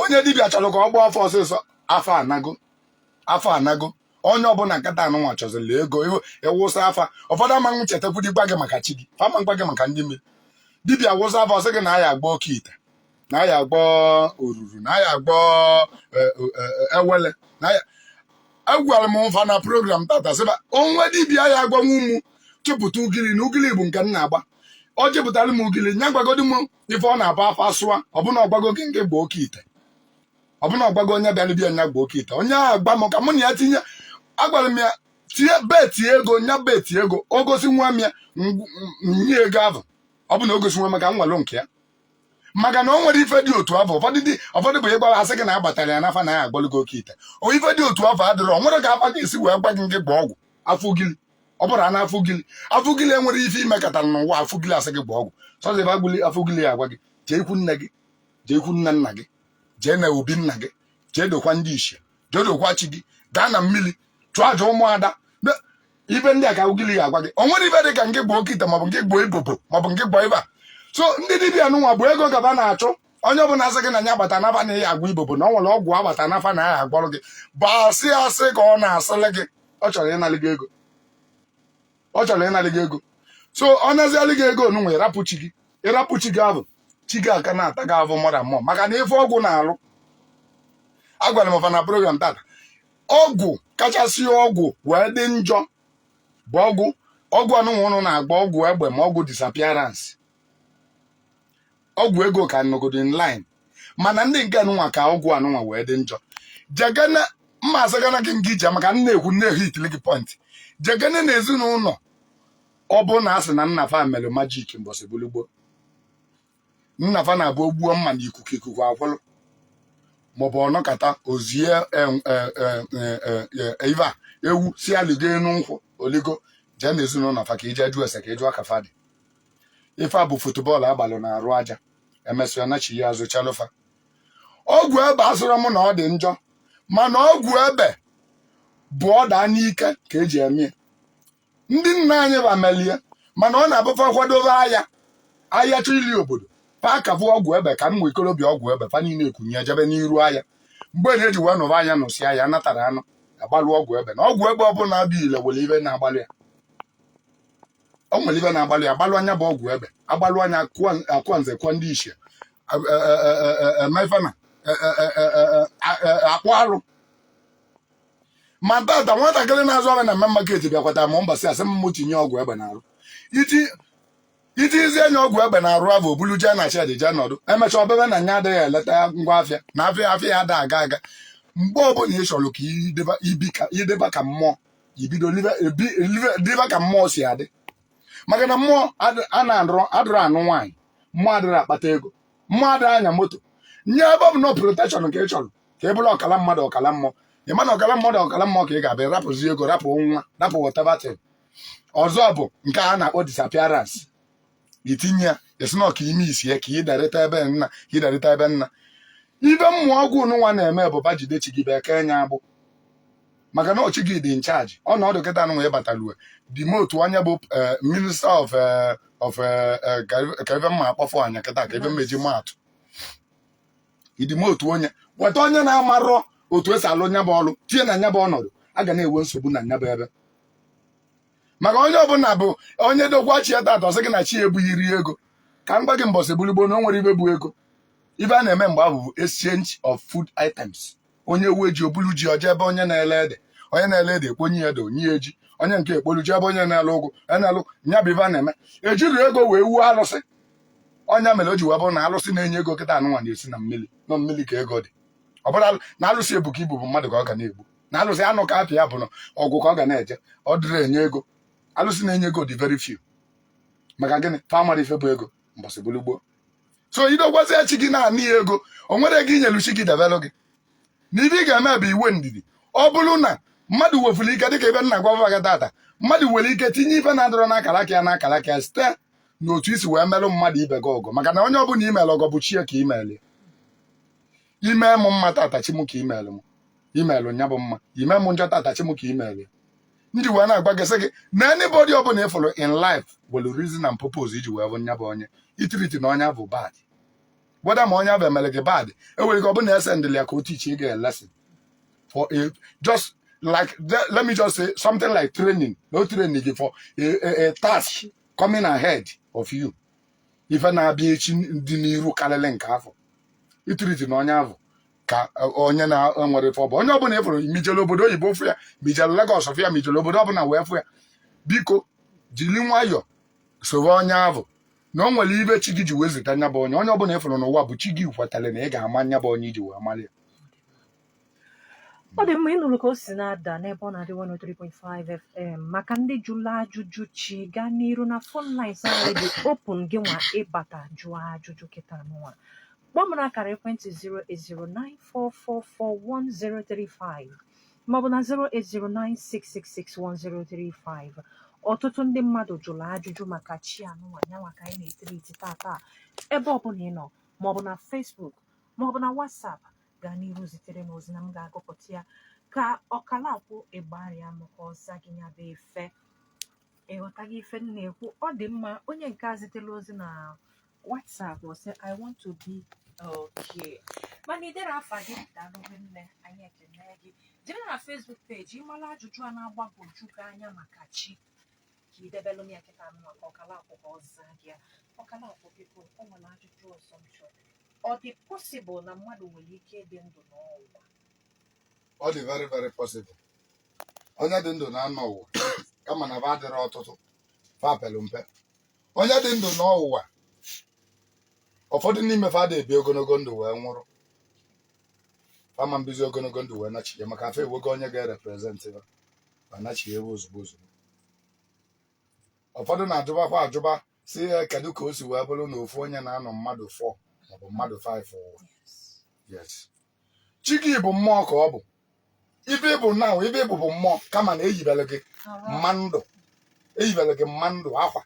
[SPEAKER 2] onye dibịa chọrọ ka ọ gbaa afa ọsịsọ afa anago afa anago onye ọbụla kịta anụnwa chọziri ego a wụsa afa ụfọdụ amanwụ chetakwudị gwa gị maka chi gị fa ama gwa gị maka ndị mmiri dibịa wụsa afa ọ sị gị na a ya-agba oke ite na a ya-agba oruru na a ya-agba eh, eh, eh, ewele na ya agwara m fa na program taata sị ba o nwee dibịa ya-agwanwu mụ chịpụta ugili na ugili bụ nke m na-agba ọ chịpụtara m ugili nya gwagodi m ife ọ na-abụ afa asụa ọ bụ na ọ gwago gị ngị gba oke ite ọ bụ na ọ gwago onye bịara be ya nya gba oke ite onye ahụ gwa m ka mụ na ya tinye agwara m ya tinye bet ego nya bet ego o gosinwu m ya ngw- m- nye ego ahụ ọ bụ na o gosinwu m ka m were nke ya maka na o nwere ife dị otu afụ ụfọdụ dị ụfọdụ bụ ịgbara asị gị na agbatara ya n'afa na a ya-agbalụ gị oke ite o ife dị otu afụ adịrọ o nwerọ ka afa ga-esi wee gwa gị ngị gba ọgwụ afa ugili ọ bụrụ na afa ugili afa ugili enwerọ ife i mekatara n'ụwa afa ugili asị gị gba ọgwụ sọzi ebe agụli afa ugili ya-agwa gị jee ikwu nne gị jee ikwu nne nna gị jee na obi nna gị jee dokwa ndị ichie jee dokwa chi gị gaa na mmiri chụọ aja ụmụada ife ndị a ka ugili ya-agwa gị o nwerọ ife dị ka ngị gba oke ite maọbụ ngị gba ibobo maọbụ ngị gba ife a so ndị dibịa nụnwa bụ ego ka ba na-achụ onye ọbụla sị gị na ya gbata n'afa na a ya-agba ibobo na o nwere ọgwụ agbata n'afa na a ya-agwọrọ gị bụ asị asị ka ọ na-asịlị gị ọ chọrọ ịnalị gị ego ọ chọrọ ịnalị gị ego so ọ nazialị gị ego onunwe ị rapụ chi gị ị rapụ chi gị avụ chi gị aka na-ata gị avụ ma ọra mmụọ maka na ife ọgwụ na-alụ agwara m fa na program taata ọgwụ kachasị ọgwụ wee dị njọ bụ ọgwụ ọgwụ anụnwa ụnụ na-agba ọgwụ egbe ma ọgwụ disappearance ọgwụ ego ka nọgodo in line mana ndị nke anụnwa ka ọgwụ anụnwa wee dị njọ jegana mma asagana gị nke ije maka m na-ekwu m na-ehitili gị point jegana na ezinụlọ ọbụna a sị na nna fa mere magic mbọsị bulu gboo nna fa na-abụ o gbuo mma na ikuku ikuku akwụlụ maọbụ ọ nọkata o zie em- e- e- e- e- e- e- ife a ewu sị ya ligo enu nkwụ o ligo jee na ezinụlọ fa ka i je jụọ ese ka ị jụọ ka fa dị ife a bụ football agbalụ na arụ aja emesịa nachie azụ chalụ fa ọgwụ egbe asịrọ m na ọ dị njọ mana ọgwụ egbe bụ ọ da n'ike ka e ji eme ya. ndị nna anyị fa meli ya mana ọ na-abụ fa kwadobe aya aya chọ ili obodo fa akabụ ọgwụ egbe ka ụmụ ikorobịa ọgwụ egbe fa niile ekunie jebe n'iru aya mgbe na eji wee nụrụ aya nụsịa aya natara anụ agbalụ ọgwụ egbe na ọgwụ egbe ọbụla dị ile nwere ife na-agbalụ ya o nwere ife na-agbalụ ya agbalụa nya bụ ọgwụ egbe agbalụa nya akụọ- akụọ nze kụọ ndị ichie emefana akpụ arụ ma tata nwatakịrị na-azụ ahịa na main market bịakwata ma mbasị asị m tinye ọgwụ egbe n'arụ i tizie nye ọgwụ egbe n'arụ a bụ o bulu jee na shed jee nọdụ emechaa ọ bebe na nya adịghị eleta ngwa afịa na afịa afịa ya ada aga aga mgbe ọbụla ị chọrọ ka ị dịba ka mmụọ i bido dịba ka mmụọ si adị maka na mmụọ adịrọ anụ nwaanyị mmụọ adịrọ akpata ego mmụọ adịrọ anya moto nye ebe ọ bụ na protection ka ị chọrọ ka ị bụrụ ọkala mmadụ ọkala mmụọ ị ma na ọkala mmadụ ọkala mmụọ ka ị ga-abịa rapụzi ego rapụ nwa rapụ whatever thing ọzọ bụ nke a na-akpọ disappearance i tinye ya esi na ọka ime isi ya ka ị darịta ebe nna ka ị darịta ebe nna ife mbụ ọgwụ nwa na-eme bụ bajide chi gị beke nya agbụ maka na ọ chi gị dị in charge ọnọdụ kịta nwa ị bata lue demote onye bụ eh, minister of eh, of eh, eh, ka ife- ka ife m ma-akpọfọ anya kịta ka ife m me-eji maa atụ i demote onye weta onye na-amarọ otu esi alụ nya bụ ọrụ tinye na nya bụ ọnọdụ a ga na-enwe nsogbu na nya bụ ebe maka onye ọbụla bụ onye dokwa chi ya tata ọ sị gị na chi ya ebughị iri ego ka m gwa gị mbọsị bulu gboo na o nwerọ ife bụ ego ife a na-eme mgbe ahụ bụ exchange of food items onye nwe ji o bulu ji o jee ebe onye na-ele ede onye na-ele ede ekponye ya ede o nye ya ji onye nke ekpolu jee ebe onye na-ele ụgụ onye na-ele ụgụ nya bụ ife a na-eme ejirọ ego wee wuo alụsị ọ nya mere o ji wee bụrụ na alụsị na-enye ego kịta anụnwa na-esi na mmiri na ọ mmiri ka ego dị ọ bụrụ alụ- na alụsị ebuka ibu bụ mmadụ ka ọ ga na-egbu na alụsị anụ ka apịa bụ na ọgwụ ka ọ ga na-eje ọ dịrọ enye ego alụsị na-enye ego dị very few maka gịnị fa amarọ ife bụ ego mbọsị bụlu gboo so idogwazie chi gị na-ana ya ego o nwere ego inyelu chi gị debelụ gị na ibe ị ga-eme bụ iwe ndidi ọ bụrụ na mmadụ wefuru ike dịka ibe m na-agwa gị tata mmadụ nwere ike tinye ife na-adọrọ n'akara aka ya n'akara aka ya site n'otu isi wee merụ mmadụ ibe gị ọgọ maka na onye ọbụla imere ọgọ bụ chi ya ka imere ya ime m mma tata chi m ka imere m imelụ nya bụ mma ime m njọ tata chi m ka imere ya m ji wee na-agwa gị sị gị na anybody ọbụla ịfụrụ in life were reason and purpose iji wee fụ nya bụ onye itiritina onye ahụ bad whether ma onye ahụ emere gị bad enwere ike ọ bụ na esendịlị ya ka o tichi gị lesson for a just like the- let me just say something like training no training gị for a, a, a task coming ahead of you ife na-abịa echi dị n'iru karịrị nke afụ itiritina onye ahụ ka onye na-enwerọ ife ọ bụ onye ọbụla ịfụrụ ma ijele obodo oyibo fụ ya ma ijele Lagos fụ ya ma ijele obodo ọbụla wee fụ ya biko jiri nwayọọ soro onye ahụ na o nwere ibe chi gị ji wee zita nya bụ onye onye ọbụla ịfụrụ n'ụwa bụ chi gị kwetara na ị ga-ama nya bụ onye iji wee mara
[SPEAKER 1] ya ọ dị mma ịnụrụ ka o si na-ada n'Ebeonadi 103.5 FM maka ndị jụrụ ajụjụ chi gaa n'iru na phone lines anyị dị open gị nwa ịbata jụọ ajụjụ kịta nụnwa kpọọ m n'akara ekwentị 08094441035 maọbụ na 08096661035 ọtụtụ ndị mmadụ jụrụ ajụjụ maka chi anụnwa nyanwa ka anyị na-etiriti tata ebe ọbụla ị nọ maọbụ na Facebook maọbụ na WhatsApp gaa n'iru zitere m ozi na m ga-agụpụta ya ka Okalakwu Igbariam ka ọ zaa gị nya bụ ife ịghọtaghị ife m na-ekwu ọ dị mma onye nke a zitere ozi na WhatsApp ọ sị I want to be okay mana iderọ afa gị daalụ rinne anyị ekene gị jee na Facebook page ịmala ajụjụ a na-agbagwoju gị anya maka chi ka idebelụ m ya kịta nwa ka Okalakwu ka ọ zaa gị ya Okalakwu biko o nwere ajụjụ ọzọ m chọrọ ọ dị possible na mmadụ nwere ike ịdị ndụ nọọ
[SPEAKER 2] ụwa ọ dị very very possible onye dị ndụ na-anọ ụwa kama na fa adịrọ ọtụtụ fa pere mpe onye dị ndụ nọọ ụwa ụfọdụ n'ime fa ada ebi ogologo ndụ wee nwụrụ fa ama ebizi ogologo ndụ wee nachie maka fa ewego onye ga-ereprezentị ya ma nachie ewe ozugbo ozugbo ụfọdụ na-ajụbakwa ajụba sị ya kedu ka o si wee bụrụ na ofu onye na-anọ mmadụ 4 maọbụ mmadụ 5 ụwa yes chi gị bụ mmụọ ka ọ bụ ibe bụ na ibe ị bụ bụ mmụọ kama na eyibere gị mma ndụ eyibere gị mma ndụ akwa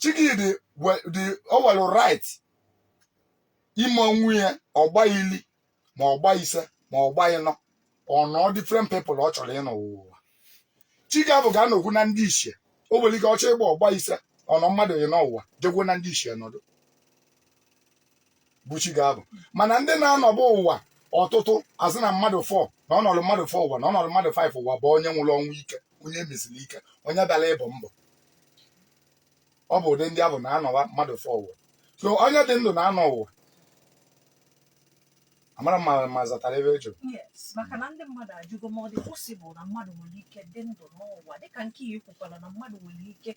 [SPEAKER 2] chi gị dị we- dị o were right ime onwe ya ọ gbaa ili ma ọ gbaa ise ma ọ gbaa ịnọ ọ nọọ different people ọ chọrọ ịnọ ụwa chi gị afụ ga-anọkwu na ndị ichie o nwere ike ọ chọọ ịgba ọgba ise ọ nọọ mmadụ ịnọ ụwa jekwu na ndị ichie nọdụ bụ chi gị afụ mana ndị na-anọbụ ụwa ọtụtụ a sị na mmadụ four na ọ nọlụ mmadụ four ụwa na ọ nọlụ mmadụ five ụwa bụ onye nwụrụ ọnwụ ike onye e mesiri ike onye bịara ịbọ ọbọ ọ bụ ụdị ndị ahụ na-anọwa mmadụ four ụwa so onye dị ndụ na-anọ ụwa amarọ m ma- ma m zatara ife ị jụrụ yes maka na
[SPEAKER 1] ndị mmadụ ajụgo ma ọ dị possible na mmadụ nwere ike dị ndụ n'ụwa dịka nke ya ekwukwala na mmadụ nwere ike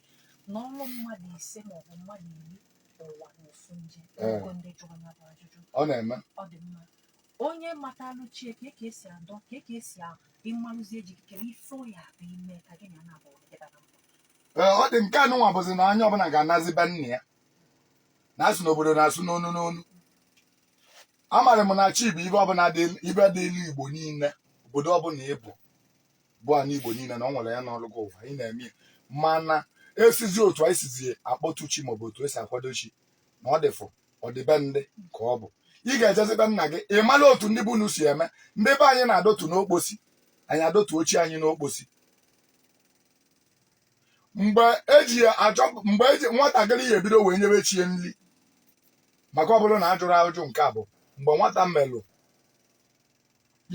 [SPEAKER 1] nọọ mmadụ ise maọbụ mmadụ iri ụwa n'ofu nje e nwego ndị jụrụ ya bụ ajụjụ ọ na-eme ọ
[SPEAKER 2] dị
[SPEAKER 1] mma onye matalụ chi ya ka ka esi adọ ka ka esi a- ịmalụzie ji kere ife ya bụ ime ka gị na ya naabọ dịba na mma Ee, ọ dị nke
[SPEAKER 2] anụnwa bụzi na onye ọbụla ga-anazi be nna ya na-asụ n'obodo na-asụ n'onu n'onu amalụ m na chi bụ ife ọ bụ ife dị n'igbo niile obodo ọbụla ịbụ bụ ana igbo niile na ọ nwere ya n'ọrụ gị ụwa anyị na-eme ya mana esizi otu anyị sizi akpọtụ chi maọbụ otu esi akwado chi na ọ dịfụ ọdịbe nke ọ bụ ị ga-ejezi be nna gị ị mara otu ndị be unu si eme ndị be anyị na-adọtu n'okposi anyị adọtu chi anyị n'okposi mgbe eji ya achọ mgbe eji nwatakịrị ya ebido wee nyebe chi ya nri maka ọ bụrụ na a jụrụ ajụjụ nke a bụ mgbe nwata melụ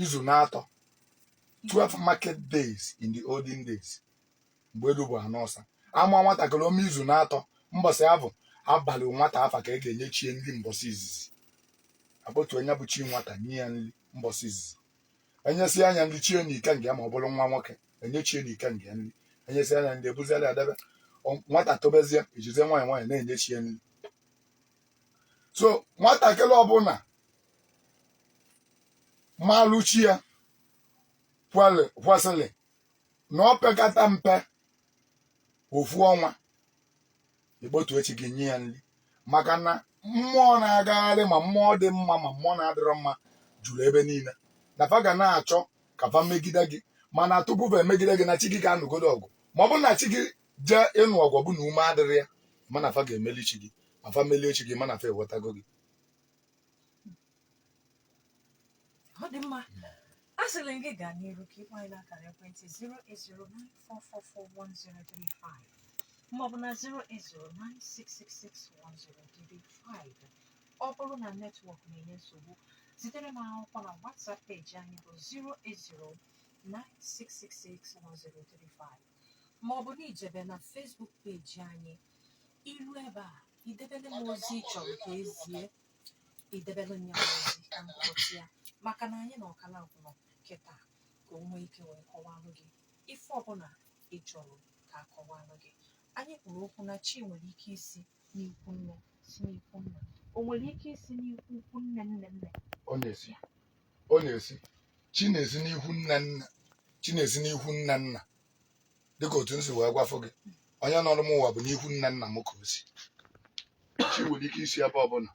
[SPEAKER 2] izu na-atọ 12 market days in the olden days mgbe elu bụ ana ọsa a mụa nwatakịrị o mee izu na-atọ mbọsị afụ a balụ nwata afa ka a ga-enye chi ya nri mbọsị izizi a kpọtu onye bụ chi nwata nye ya nri mbọsị izizi e nyesịa ya nri chi ya na ikenga ma ọ bụrụ nwa nwoke e nye chi ya na ikenga ya nri e nyesịa ya nri e buzie ya debe Ọ- nwata tobezie e jizie nwayọ nwayọ na-enye chi ya nri so nwatakịrị ọbụla malụ chi ya kwere- kwesịrị na ọ pekata mpe ofu ọnwa ịkpọtu chi gị nye ya nri maka na mmụọ na-agagharị ma mmụọ dị mma ma mmụọ na-adịrọ mma juru ebe niile na fa ga na-achọ ka fa megide gị mana tupu fa emegide gị na chi gị ga-anụgodu ọgụ ma ọ bụrụ na chi gị jee ịnụ ọgụ ọ bụ na ume adịrị ya mana fa ga-emeli chi gị ma fa melie chi gị mana fa enwetago gị
[SPEAKER 1] ọ dị mma asịrị m gị gaa n'iru ka ị kpọọ anyị n'akara ekwentị 08094441035 maọbụ na 08096661035 ọ bụrụ na netwọk na-enye nsogbu zitere m akwụkwọ na WhatsApp peji anyị bụ 08096661035 maọbụ na i jebe na Facebook peji anyị i rue ebe a i debere m ozi ị chọrọ ka e zie idebere nya ozi ka m kpọchi ya maka na anyị na Okalakwu nọ kịta ka o nwee ike wee kọwalụ gị ife ọbụla ị chọrọ ka a kọwalụ gị anyị kwuru okwu na chi nwere ike isi n'ikwu nne si n'ikwu nna o nwere ike isi n'ikwu ukwu nne nne nne ọ na-esi
[SPEAKER 2] ọ na-esi chi na-esi n'ikwu nna nna chi na-esi n'ikwu nna nna dịka otu nsi wee gwafụ gị onye nọrọ m ụwa bụ n'ikwu nne nna m ka o si chi nwere ike isi ebe ọbụla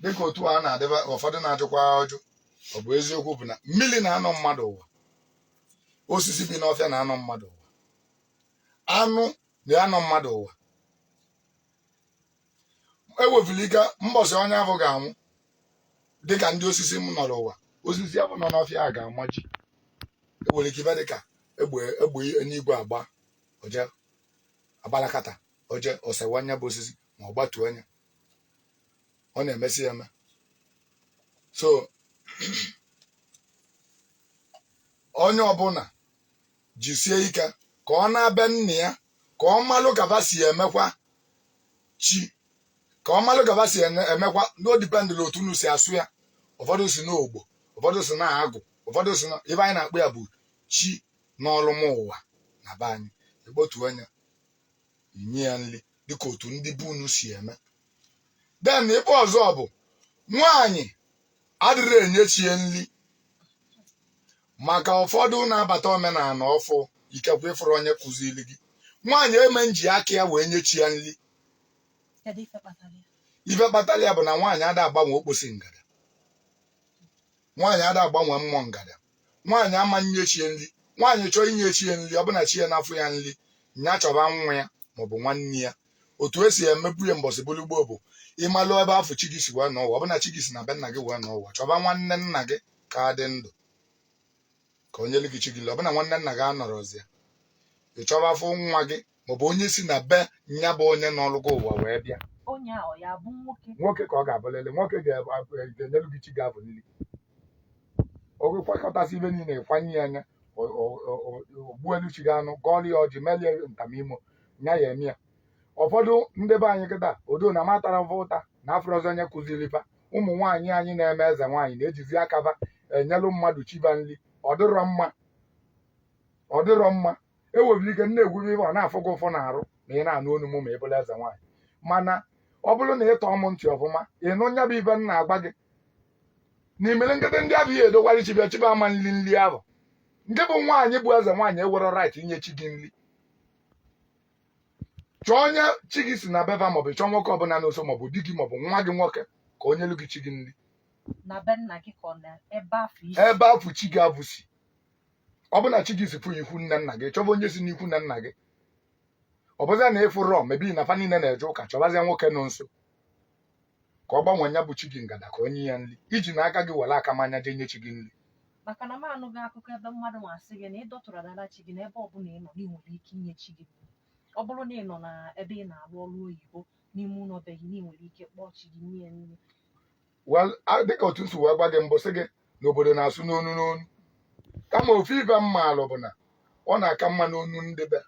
[SPEAKER 2] dịka otu a na-adịba ụfọdụ na-ajụkwa ajụ ọ bụ eziokwu bụ na mmiri na-anọ mmadụ ụwa osisi bi n'ọfịa na-anọ mmadụ ụwa anụ na-anọ mmadụ ụwa enwefulu ike mbọsị onye ahụ ga-anwụ dịka ndị osisi nọrọ ụwa osisi ahụ nọ n'ọfịa a ga-amaji enwere ike ife dịka egbe egbe eluigwe agba oje agbalakata oje o sewa nya bụ osisi ma ọ gbatuo nya ọ na-emesi eme so onye ọbụla jisie ike ka ọ naa be nna ya ka ọ malụ ka fa si emekwa chi ka ọ malụ ka fa si ene- emekwa na ọ depend n'otu unu si asụ ya ụfọdụ sị na ogbo ụfọdụ sị na agụ ụfọdụ sị na ife anyị na-akpọ ya bụ chi nọlụ m ụwa na be anyị ekpotu nya inye ya nri dịka otu ndị be unu si eme then ife ọzọ bụ nwaanyị adịrị enye chi ya nri maka ụfọdụ na-abata omenala ọfụụ ikekwe ị fụrọ onye kuziri gị nwaanyị eme nji aka ya wee nye chi ya nri ife kpatara ya bụ na nwaanyị ada agbanwe okposi ngada nwaanyị ada agbanwe mmụọ ngada nwaanyị ama nye chie nri nwaanyị chọọ inye chie nri ọ bụ na chie n'afọ ya nri nya chọba nwa ya maọbụ nwanne ya otu esi emebu ya mbọsị bụrụ gboo bụ ị malụ ebe ahụ chi gị si wee nọ ụwa ọ bụ na chi gị si na be nna gị wee nọ ụwa ị chọba nwanne nna gị ka dị ndụ ka o nyelu gị chi gị nri ọ bụ na nwanne nna gị anọrọzi ya ị chọba afọ nwa gị maọbụ onye si na be nya bụ onye nọlụ gị ụwa wee bịa onye ahụ ya bụ nwoke nwoke ka ọ ga-abụlili nwoke ga-enyelu gị chi gị ahụ nri oge kwakọtasị ife niile ị kwanye ya nya o gbuelu chi gị anụ gọọlụ ya ọjị melie nta na imo nya ya eme ya ụfọdụ ndị be anyị kịta although na m atarọ fa ụta na afụrọzi onye kuziri fa ụmụ nwaanyị anyị na-eme eze nwaanyị na-ejizi aka fa enyelụ mmadụ chi fa nri ọ dịrọ mma ọ dịrọ mma enwefulu ike m na-ekwu bụ ife ọ na-afụ gị ụfụ n'arụ ma ị na-anụ onu m ma ị bụrụ eze nwaanyị mana ọ bụrụ na ị tọọ m ntị ọfụma ị nụ nya bụ ife m na-agwa gị na i mere nkịtị ndị ahụ i dokwara chi fa chi fa ama nri nri ahụ nke bụ nwaanyị bụ eze nwaanyị enwerọ right inye chi gị nri chọọ onye chi gị si na be va maọbụ chọọ nwoke ọbụla nọ nso maọbụ di gị maọbụ nwa gị nwoke ka o nyelu gị chi gị nri ebe afụ chi gị afụ si ọ bụ na chi gị si fụ ikwu nne nna gị chọba onye si n'ikwu nne nna gị ọ bụzịa na ị fụrọ maybe na fa niile na-eje ụka chọbazịa nwoke nọ nso ka ọ gbanwee ya bụ chi gị ngada ka o nye ya nri i jina aka gị were aka manya jee nye chi gị nri maka na m
[SPEAKER 1] anụghị akụkọ ebe mmadụ na-asị gị na ị dọtụrụ adara chi gị n'ebe ọbụla ị nọ na ị nwere ike inye chi gị nri. ọ bụrụ na ị nọ na ebe ị na-arụ ọrụ oyibo n'ime ụlọ be gị na ị nwere ike kpọọ chi gị nye ya nri Well,
[SPEAKER 2] a- dịka otu m si wee gwa gị mbụ sị gị na obodo na-asụ n'onu n'onu kama ofu ife m maalụ bụ na ọ na-aka mma n'onu ndị be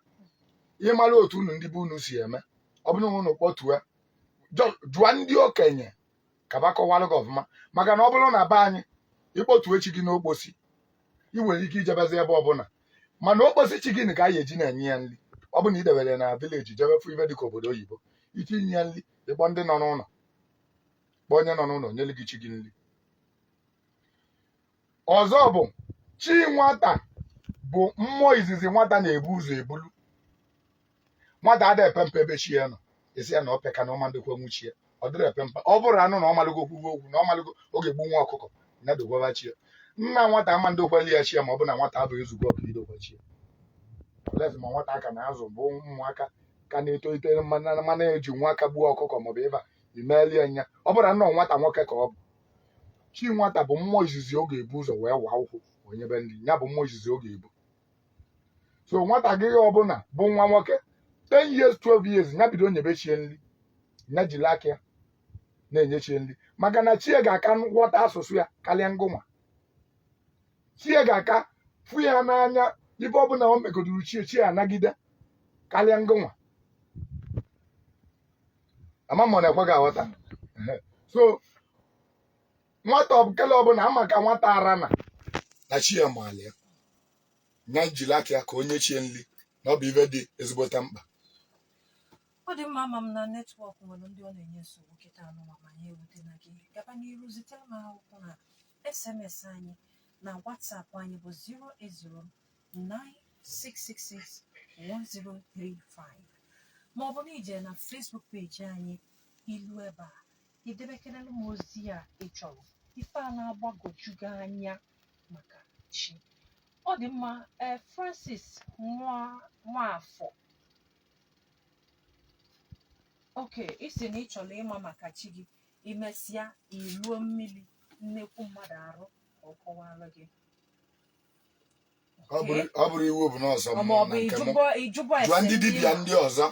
[SPEAKER 2] ị mara otu unu ndị be unu si eme ọ bụrụ na unu kpọtue Jọ- jụọ ndị okenye ka fa kọwalụ gị ọfụma maka na ọ bụrụ na be anyị ị kpọtue chi gị n'okposi ị nwere ike ijebezi ebe ọbụla mana okposi chi gị na ka anyị eji na-enye ya nri ọ bụ na i debere ya na vileji jebe fụ ife dịka obodo oyibo ike inye ya nri ị kpọọ ndị nọ n'ụlọ kpọọ onye nọ n'ụlọ nyere gị chi gị nri ọzọ bụ chi nwata bụ mmụọ izizi nwata na-ebu ụzọ ebulu nwata ada epe mpe ebe chi ya nọ asị ya na ọ peka na ọ ma ndokwanwu chi ya ọ dịrọ epe mpe ọ bụrụ anụ na ọ malụgo okwugo okwu na ọ malụgo oge gbu nwa ọkụkọ ya dokwaba chi ya nna nwata ama ndokwali ya chi ya ma ọ bụ na nwata abụghị ezugbo ọkụ idokwa chi ya olezi ma nwata aka na-azụ bụ ụmụaka ka na-etolite mana ejinwu aka gbuo ọkụkọ maọbụ ife i meeli ya nya ọ bụrụ na nnọọ nwata nwoke ka ọ bụ chi nwata bụ mmụọ izizi ọ ga-ebu ụzọ wee waa ụkwụ o nyebe nri nya bụ mmụọ izizi ọ ga-ebu so nwatakịrị ọbụla bụ nwa nwoke 10 years 12 years ya bido nyebe chi ya nri ya jiri aka ya na-enye chi ya nri maka na chi ya ga-aka ghọta asụsụ ya karịa ngụnwa chi ya ga-aka fụ ya n'anya ife ọbụla o megoduru chi ya chi ya anagide karịa ngụnwa ama m ọ na-ekwe gị aghọta Ehe. so nwata ọbụkele ọbụla ama ka nwata ara na na chi ya maala ya nya jiri aka ya ka o nye chi ya nri na ọ bụ ife dị ezigbote
[SPEAKER 1] mkpa ọ dị mma ama m na netwọk nwere ndị ọ na-enye nsogbu kịta anụnwa ma ya ewutena gị gaba n'iru zitere m akwụkwọ na sms anyị na whatsapp anyị bụ 08096661035 ma ọ bụ na i je na Facebook peji anyị i lu ebe a i debekerela m ozi a ị chọrọ ife a na-agbagwoju gị anya maka chi ọ dị mma ee Francis Nwafọ okay ị sị na ị chọrọ ịma maka chi gị i mesịa i luo mmiri nnekwu mmadụ arụ ka ọ kọwara gị
[SPEAKER 2] ọ bụrọ- ọ bụrọ iwu bụ na ọ sọ ọ ma mmụọ ọ bụ na nke mụ
[SPEAKER 1] ijụbọ ijụbọ jụọ ese ndị dibịa n'ihu. ndị
[SPEAKER 2] ọzọ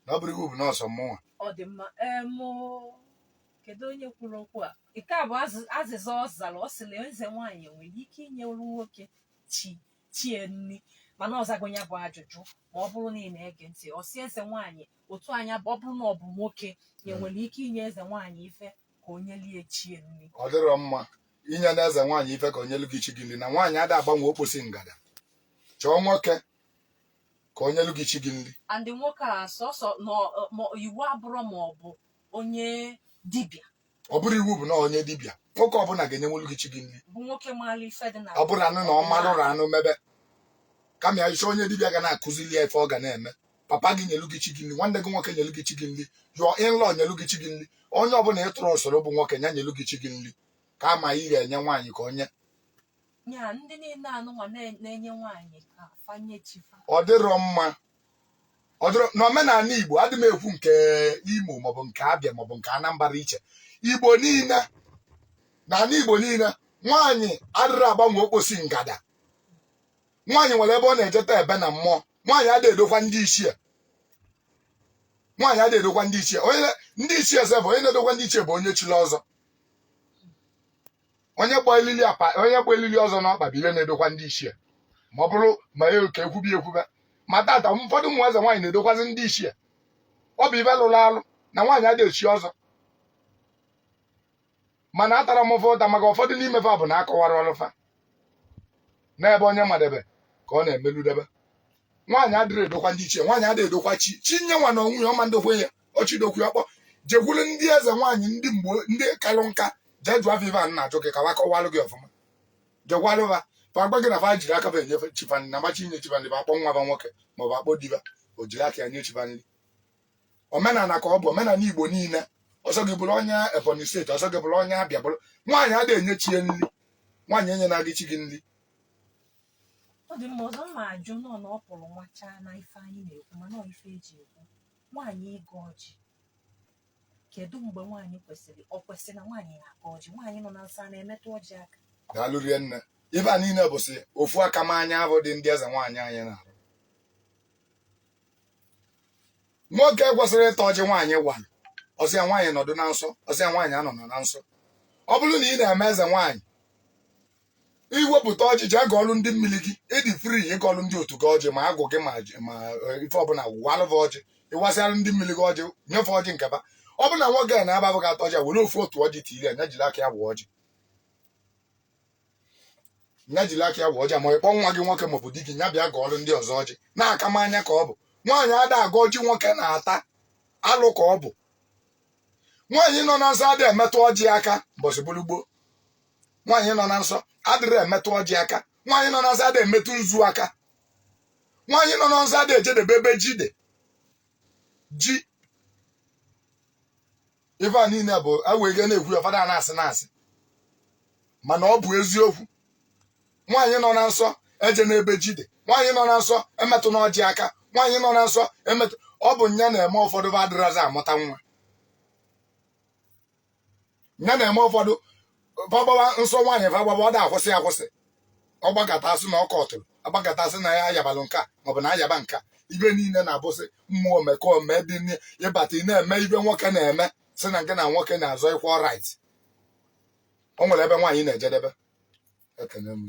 [SPEAKER 2] na ọ bụrọ iwu bụ na ọ sọ mụnwa ọ dị mma
[SPEAKER 1] eem kedu onye kwuru okwu a nke a bụ azị- azịza ọ zara ọ sị na eze nwaanyị nwere ike inyere nwoke chi chi ya nri mana ọ zago ya bụ ajụjụ ma ọ bụrụ na ị na-ege ntị ọ sị eze nwaanyị otu anya bụ ọ bụrụ na ọ bụ nwoke ya nwere ike inye eze nwaanyị ife ka o nyelie chi ya nri ọ dịrọ
[SPEAKER 2] mma inye na eze nwaanyị ife ka o nyelu gị chi gị nri na nwaanyị ada agbanwe okposi ngada chọọ nwoke ka o nyelu gị chi gị nri ọ ndị nwoke a sọsọ
[SPEAKER 1] na ọ- ma iwu abụrọ ma ọ bụ onye dibịa ọ bụrọ
[SPEAKER 2] iwu bụ na ọ onye dibịa nwoke ọbụla ga-enyenwolu gị chi gị nri bụ nwoke maara ife
[SPEAKER 1] dị na ọ bụrụkwanụ na ọ marụrụ
[SPEAKER 2] anụ mebe kama ya chọọ onye dibịa ga na-akụzili ya ife ọ ga na-eme papa gị nyelu gị chi gị nri nwanne gị nwoke nyelu gị chi gị nri your in-law nyelu gị chi gị nri onye ọbụla ị trustụrụ bụ nwoke ya nyelu gị chi gị nri kama ị ga-enye nwaanyị ka o nye ya ndị niile anụnwa na- na-enye nwaanyị ka fa nye
[SPEAKER 1] chi fa ọ dịrọ mma
[SPEAKER 2] ọ dịrọ n'omenala igbo adị m ekwu nke imo maọbụ nke abịa maọbụ nke anambra iche igbo niile n'ala igbo niile nwaanyị adịrọ agbanwe okposi ngada nwaanyị nwere ebe ọ na-ejedebe na mmụọ nwaanyị adịghị edokwa ndị ichie nwaanyị adịghị edokwa ndị ichie onye na- ndị ichie eze bụ onye na-edokwa ndị ichie bụ onye chiri ọzọ onye gba elili apa onye gba elili ọzọ n'ọkpa bụ ife na-edokwa ndị ichie ma ọ bụrụ ma ya ka ekwubi ekwube ma tata ụfọdụ ụmụ eze nwaanyị na-edokwazi ndị ichie ọ bụ ife lụrụ alụ na nwaanyị adịghị echi ọzọ mana atarọ m fa ụta maka ụfọdụ n'ime fa bụ na akọwarọlụ fa n'ebe onye madebe ka ọ na-emeludebe nwaanyị adịrọ edokwa ndị ichie nwaanyị adịrọ edokwa chi chi nye nwa na onwe ya ọ ma ndokwa ya ọ chọ idokwa ya kpọ jekwuru ndị eze nwaanyị ndị mgbe ndị kalụ nka jee jụọ fa ife a na-ajụ gị ka fa kọwalụ gị ọfụma jekwulu fa fa gwa gị na fa jiri aka fa enyefe chi fa nni na fa chọ inye chi fa nni fa akpọ nwa fa nwoke maọbụ akpọ di fa o jiri aka ya nye chi fa n omenala ka ọ bụ omenala igbo niile ọ sọ gị bụrụ onye ebonyi steeti ọ sọ gị bụrụ onye abịa bụrụ nwaanyị ada enye chi ya nri nwaanyị enyena gị chi gị nri
[SPEAKER 1] ọ dị mma ọzọ m ga-ajụ nọ na ọ pụrụ nwachaa na ife anyị na-ekwu mana ọ ife e ji ekwu nwaanyị ịgọ ọjị kedu mgbe nwaanyị kwesịrị ọ kwesịrị na nwaanyị na-agọ ọjị nwaanyị nọ na nsọ ọ na-emetụ ọjị aka daalụ rinne
[SPEAKER 2] ife a niile bụsị ofu aka m anya abụ dị ndị eze nwaanyị anyị na-arụ nwoke kwesịrị ịta ọjị nwaanyị walụ ọ sọ ya nwaanyị nọdụ na nsọ ọ sọ ya nwaanyị anọ na nsọ ọ bụrụ na ị na-eme eze nwaanyị i wepụta ọjị jee gọọlụ ndị mmiri gị ị dị free ịgọlụ ndị otu gị ọjị ma agwụ gị ma ji- ma eh, ife ọbụla walụ fa ọjị ị wasịalụ ndị mmiri gị ọjị nye fa ọjị nke fa ọ bụ na nwoke a na-ababụ ga-ata ọjị a, were ofu otu ọjị tiri ya nya jiri aka ya waa ọjị ya jiri aka ya waa ọjị ma ịkpọ nwa gị nwoke maọbụ di gị ya bịa gọọrụ ndị ọzọ ọjị na akamanya ka ọ bụ nwaanyị ada agọ ọjị nwoke na-ata alụ ka ọ bụ nwaanyị nọ na nsọ adịghị emetụ ọjị aka mbọsị bụrụ gboo nwaanyị nọ na nsọ adịrọ emetụ ọjị aka nwaanyị nọ na nsọ ada emetụ nzu aka nwaanyị nọ na nsọ ada ejedebe ebe ji dị ji ife a niile bụ ewege na-ekwu ya ụfọdụ a na-asị na asị mana ọ bụ eziokwu nwaanyị nọ na nsọ ejena ebe ji dị nwaanyị nọ na nsọ emetụna ọjị aka nwaanyị nọ na nsọ emetụ ọ bụ nya na-eme ụfọdụ fa adịrọzi amụta nwa nya na-eme ụfọdụ fa gbaba nsọ nwaanyị fa gbaba ọ da akwụsị akwụsị ọ gbagata a sị na ọ kọtụrụ ọ gbagata a sị na ya ayabalụ nka maọbụ na ayaba nka ife niile na-abụsị mmụọ omekome dị n'i- ịbata ị na-eme ife nwoke na-eme sị na gị na nwoke na-azọ equal right o nwere ebe nwaanyị na-ejedebe ekene
[SPEAKER 1] m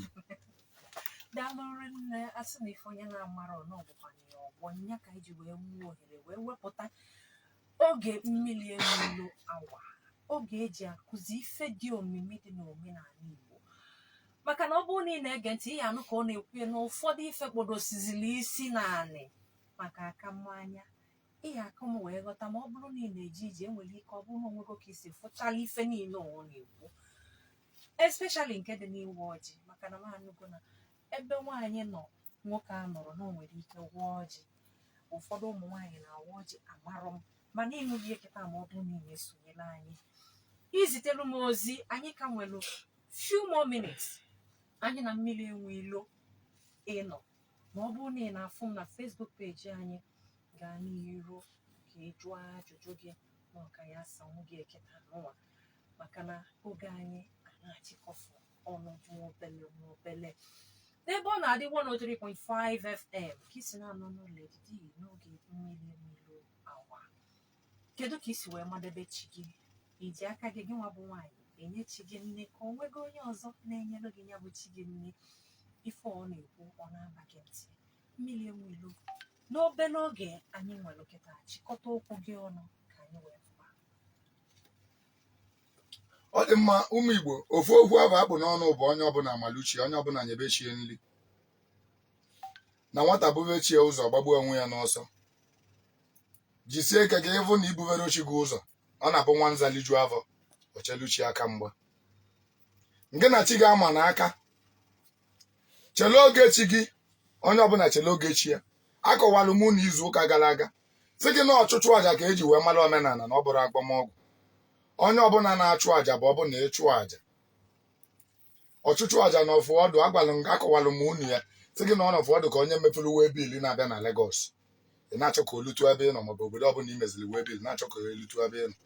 [SPEAKER 1] daalụ rinne asị na ife onye na-amarọ n'ọbụkwanye ya ọgbọ nya ka anyị ji wee nwee ohere wee wepụta oge mmiri enwe ilo awa oge eji akụzi ife dị omimi dị n'omenala Igbo maka na ọ bụrụ na ị na-ege ntị ị ya-anụ ka ọ na-ekwu ya na ụfọdụ ife kpodosizili isi naanị maka akamanya ihe a ka m wee ghọta ma ọ bụrụ na ị na-eje ije enwere ike ọ bụrụ na onwego ka isi fụchala ife niile ọ na-ekwu especially nke dị n'ịwa ọjị maka na m anụgo na ebe nwaanyị nọ nwoke anọrọ na o nwere ike gọọ ọjị ụfọdụ ụmụ nwaanyị na-awa ọjị amarọ m mana ịnụrụ eketa ma ọ bụrụ na ị na-esonyere anyị izitelu m ozi anyị ka nwere few more minutes anyị na mmiri enwe ilo ịnọ ma ọ bụrụ na ị na-afụ m na Facebook page anyị gaa n'iru ka ị jụọ ajụjụ gị na ọ ka ya-asanwu gị eketa nụwa maka na oge anyị a na-achịkọfụ ọnụ nwa obele nwa obele Ebeonadi 103.5 FM ka isi na-anụ olu edidi n'oge mmiri enwe ilo awa Kedu ka i si wee madebe chi gị? I ji aka gị gịnwa bụ nwaanyị enye chi gị nni ka o nwego onye ọzọ na-enyere gị ya bụ chi gị nni ife ọ na-ekwu ọ na-aba gị ntị mmiri enwe ilo n'obere oge anyị nwere kịta chịkọta okwu gị ọnụ ka anyị wee
[SPEAKER 2] pụọ ọ dị mma ụmụ igbo ofu okwu ahụ a kpụ n'ọnụ bụ onye ọbụla malụ chi onye ọbụla nyebe chi ya nri na nwata bube chi ya ụzọ ọ gbagbuo onwe ya n'ọsọ jisie ike ka ịvụ na ibuberọ chi gị ụzọ ọ na-abụ nwa nza liju afọ o chelu chi ya aka mgba ngị na chi gị amana aka chele oge chi gị onye ọbụla chele oge chi ya akọwalụ mụ na izu ụka gara aga sị gị na ọchụchụ aja ka eji wee mara omenala na ọ bụrọ agwọmọgwụ onye ọbụla na-achụ aja bụ ọbụna ịchụ aja ọchụchụ aja na ụfọdụ agwalụ m akọwalụ m unu ya sị gị na ọ nọfụ ọ dị ka onye mepụrụ waybill na-abịa na Lagos ị na-achọ ka o lutu ebe ị nọ maọbụ obodo ọbụla ị meziri waybill na-achọ ka o lutu ebe ị nọ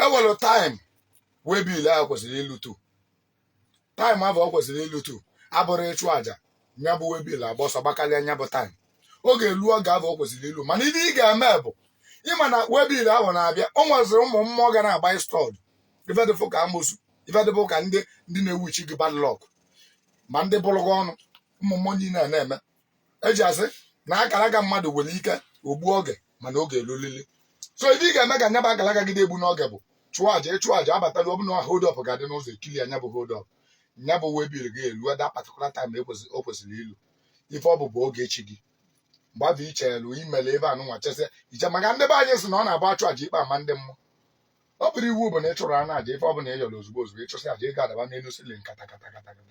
[SPEAKER 2] enwelụ time waybill ahụ kwesịrị ilutu time ahụ o kwesịrị ilutu abụrọ ịchụ aja nya bụ waybill agba ọsọ gbakarịa nya bụ time ọ ga-elu oge ahụ o kwesịrị ilu mana ihe ị ga-eme bụ ịma na waybill ahụ na-abịa o nweziri ụmụ mmụọ ga na-agba stud ife dị fụ ka amosu ife dị fụ ka ndị ndị na-ewuchi gị bad luck ma ndị bụrụ gị ọnụ ụmụ mmụọ niile a na-eme eji asị na akara aka mmadụ nwere ike o gbu oge mana ọ ga-elulili so ife ị ga-eme ka nya bụ akara aka gị dị egbuna oge bụ chụọ aja ịchụ aja abatala ọ bụrụ na hold up ga-adị n'ụzọ e clear nya bụ hold up nya bụ waybill gị elu at that particular time o kwesịrị ilu ife ọ bụ bụ oge chi gị mgbe ahụ i chelu imele ebe anụ nwa chesịa iche maka ndị be anyị sị na ọ na-abụ achụ aja ikpe ama ndị mmụọ ọ bụrọ iwu bụ na ị chụrụ anụ aja ife ọ bụla ị yọrọ ozugbo ozugbo ịchụsị aja ego adaba n'elu ceiling kata kata kata kata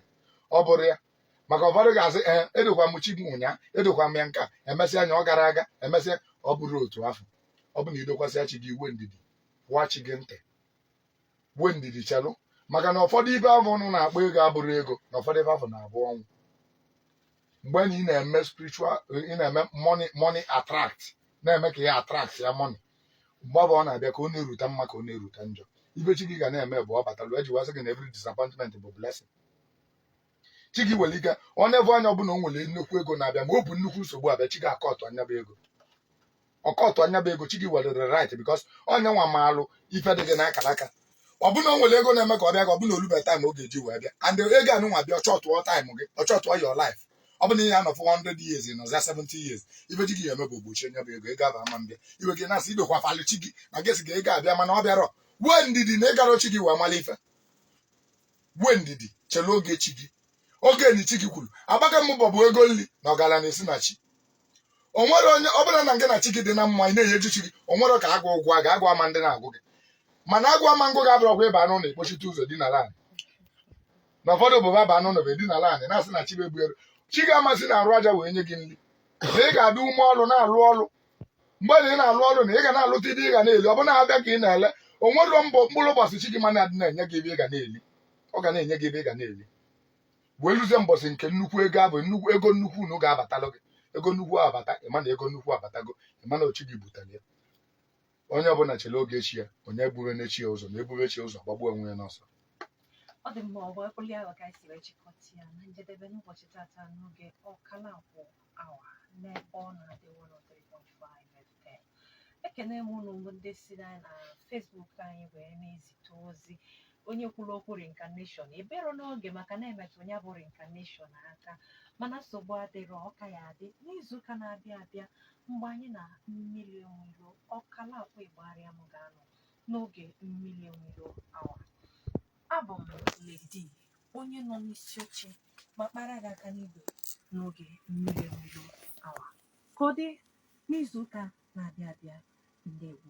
[SPEAKER 2] ọ bụrọ ya maka ụfọdụ ga-asị ee edokwa m chi m ụnyaa edokwa m ya nke a emesịa anya ọ gara aga emesịa ọ bụrọ otu afụ ọ bụ na idokwasịa chi gị i nwe ndidi wa chi gị ntị nwee ndidi chelụ maka na ụfọdụ ife afụ unu na-akpọ ego abụrọ ego na ụfọdụ ife afụ na-abụ ọnwụ mgbe na ị na-eme spiritual ị na-eme money money attract na-eme ka ya attract ya money mgbe ahụ ọ na-abịa ka ọ na-erute mma ka ọ na-erute njọ ife chi gị ga na-eme bụ ọ batalụ eji wee sị gị na every disappointment bụ blessing chi gị nwere ike o nevu anya ọ fụ na o nwere nnukwu ego na-abịa ma ọ bụ nnukwu nsogbu abịa chi gị akọtụa nya bụ ego ọ kọtụa nya bụ ego chi gị nwerere right because ọ nya nwa maalụ ife dị gị n'akara aka ọ bụ na o nwere ego na-eme ka ọ bịa ka ọ bụ na o lube time ọ ga-eji wee bịa and ego anụ nwa bịa ọ shọtụọ time gị ọ shọtụọ your life ọ bụ na ị ya-anọfụ 100 years nọzia 70 years ife chi gị ya-eme bụ o gbochie nya bụ ego ego ahụ ama mbịa iwe gị na-asị idokwa falụ chi gị na gesi ga ego abịa mana ọ bịarọ nwee ndidi na ị karọ chi gị wee mala ife nwee ndidi chela oge chi gị oge na chi gị kwuru agbaka mbọ bụ ego nri na ọgaranya esi na chi o nwerọ onye ọ bụrụ na ngị na chi gị dị na mma ị na-enyeju chi gị o nwerọ ka agụ ụgwọ a ga-agụ ama ndị na-agụ gị mana agụụ ama ngụ ga-abụrụ ọgwụ ịba anụ na ekpochite ụzọ dị n'ala anyị na ụfọdụ bụ baba anụ na bụ dị n'ala anyị na-asị na chi bụ egbu elu chi gị ama si n'arụ aja wee nye gị nri na ị ga-adị ime ọrụ na-alụ ọrụ mgbe na ị na-alụ ọrụ na ị ga na-alụta ife ị ga na-eli ọ bụ na-abịa ka ị na-ele o nwerọ mbọ mkpụrụ ụbọchị chi gị ma na-adị na-enye gị ife ị ga na-eli ọ ga na-enye gị ife ị ga na-eli wee luzie mbọsị nke nnukwu ego ahụ bụ ego nnukwu unu ga-abatalụ gị ego nnukwu abata ịma na ego nnukwu abatago ịma na ọ chi gị butara ya onye ọbụla chere oge chi ya onye ebubena chi ya ụzọ na ebube chi ya ụzọ gbagbuo onwe ya n'ọsọ ọ dị mma ọ bụ
[SPEAKER 1] ekwuli ahụ ka anyị si wee chịkọta ya na njedebe n'ụbọchị tata n'oge ọkala akwụ awa n'ebe ọ na-adị 103.5 FM ekene m unu bụ ndị si na na Facebook anyị wee na-ezite ozi onye kwuru okwu reincarnation ebero n'oge maka na-emetụ ya bụ reincarnation aka mana nsogbu adịrọ ọ ka ya-adị n'izuụka na-abịa abịa mgbe anyị na Mmili Enweilo Okalakwu Igbariam ga-anọ n'oge Mmili Enweilo awa abụ m Lady onye nọ n'isi oche ma kpara gị aka n'igwe n'oge Mmili Enweilo awa ka ọ dị n'izu ụka na-abịa abịa ndewo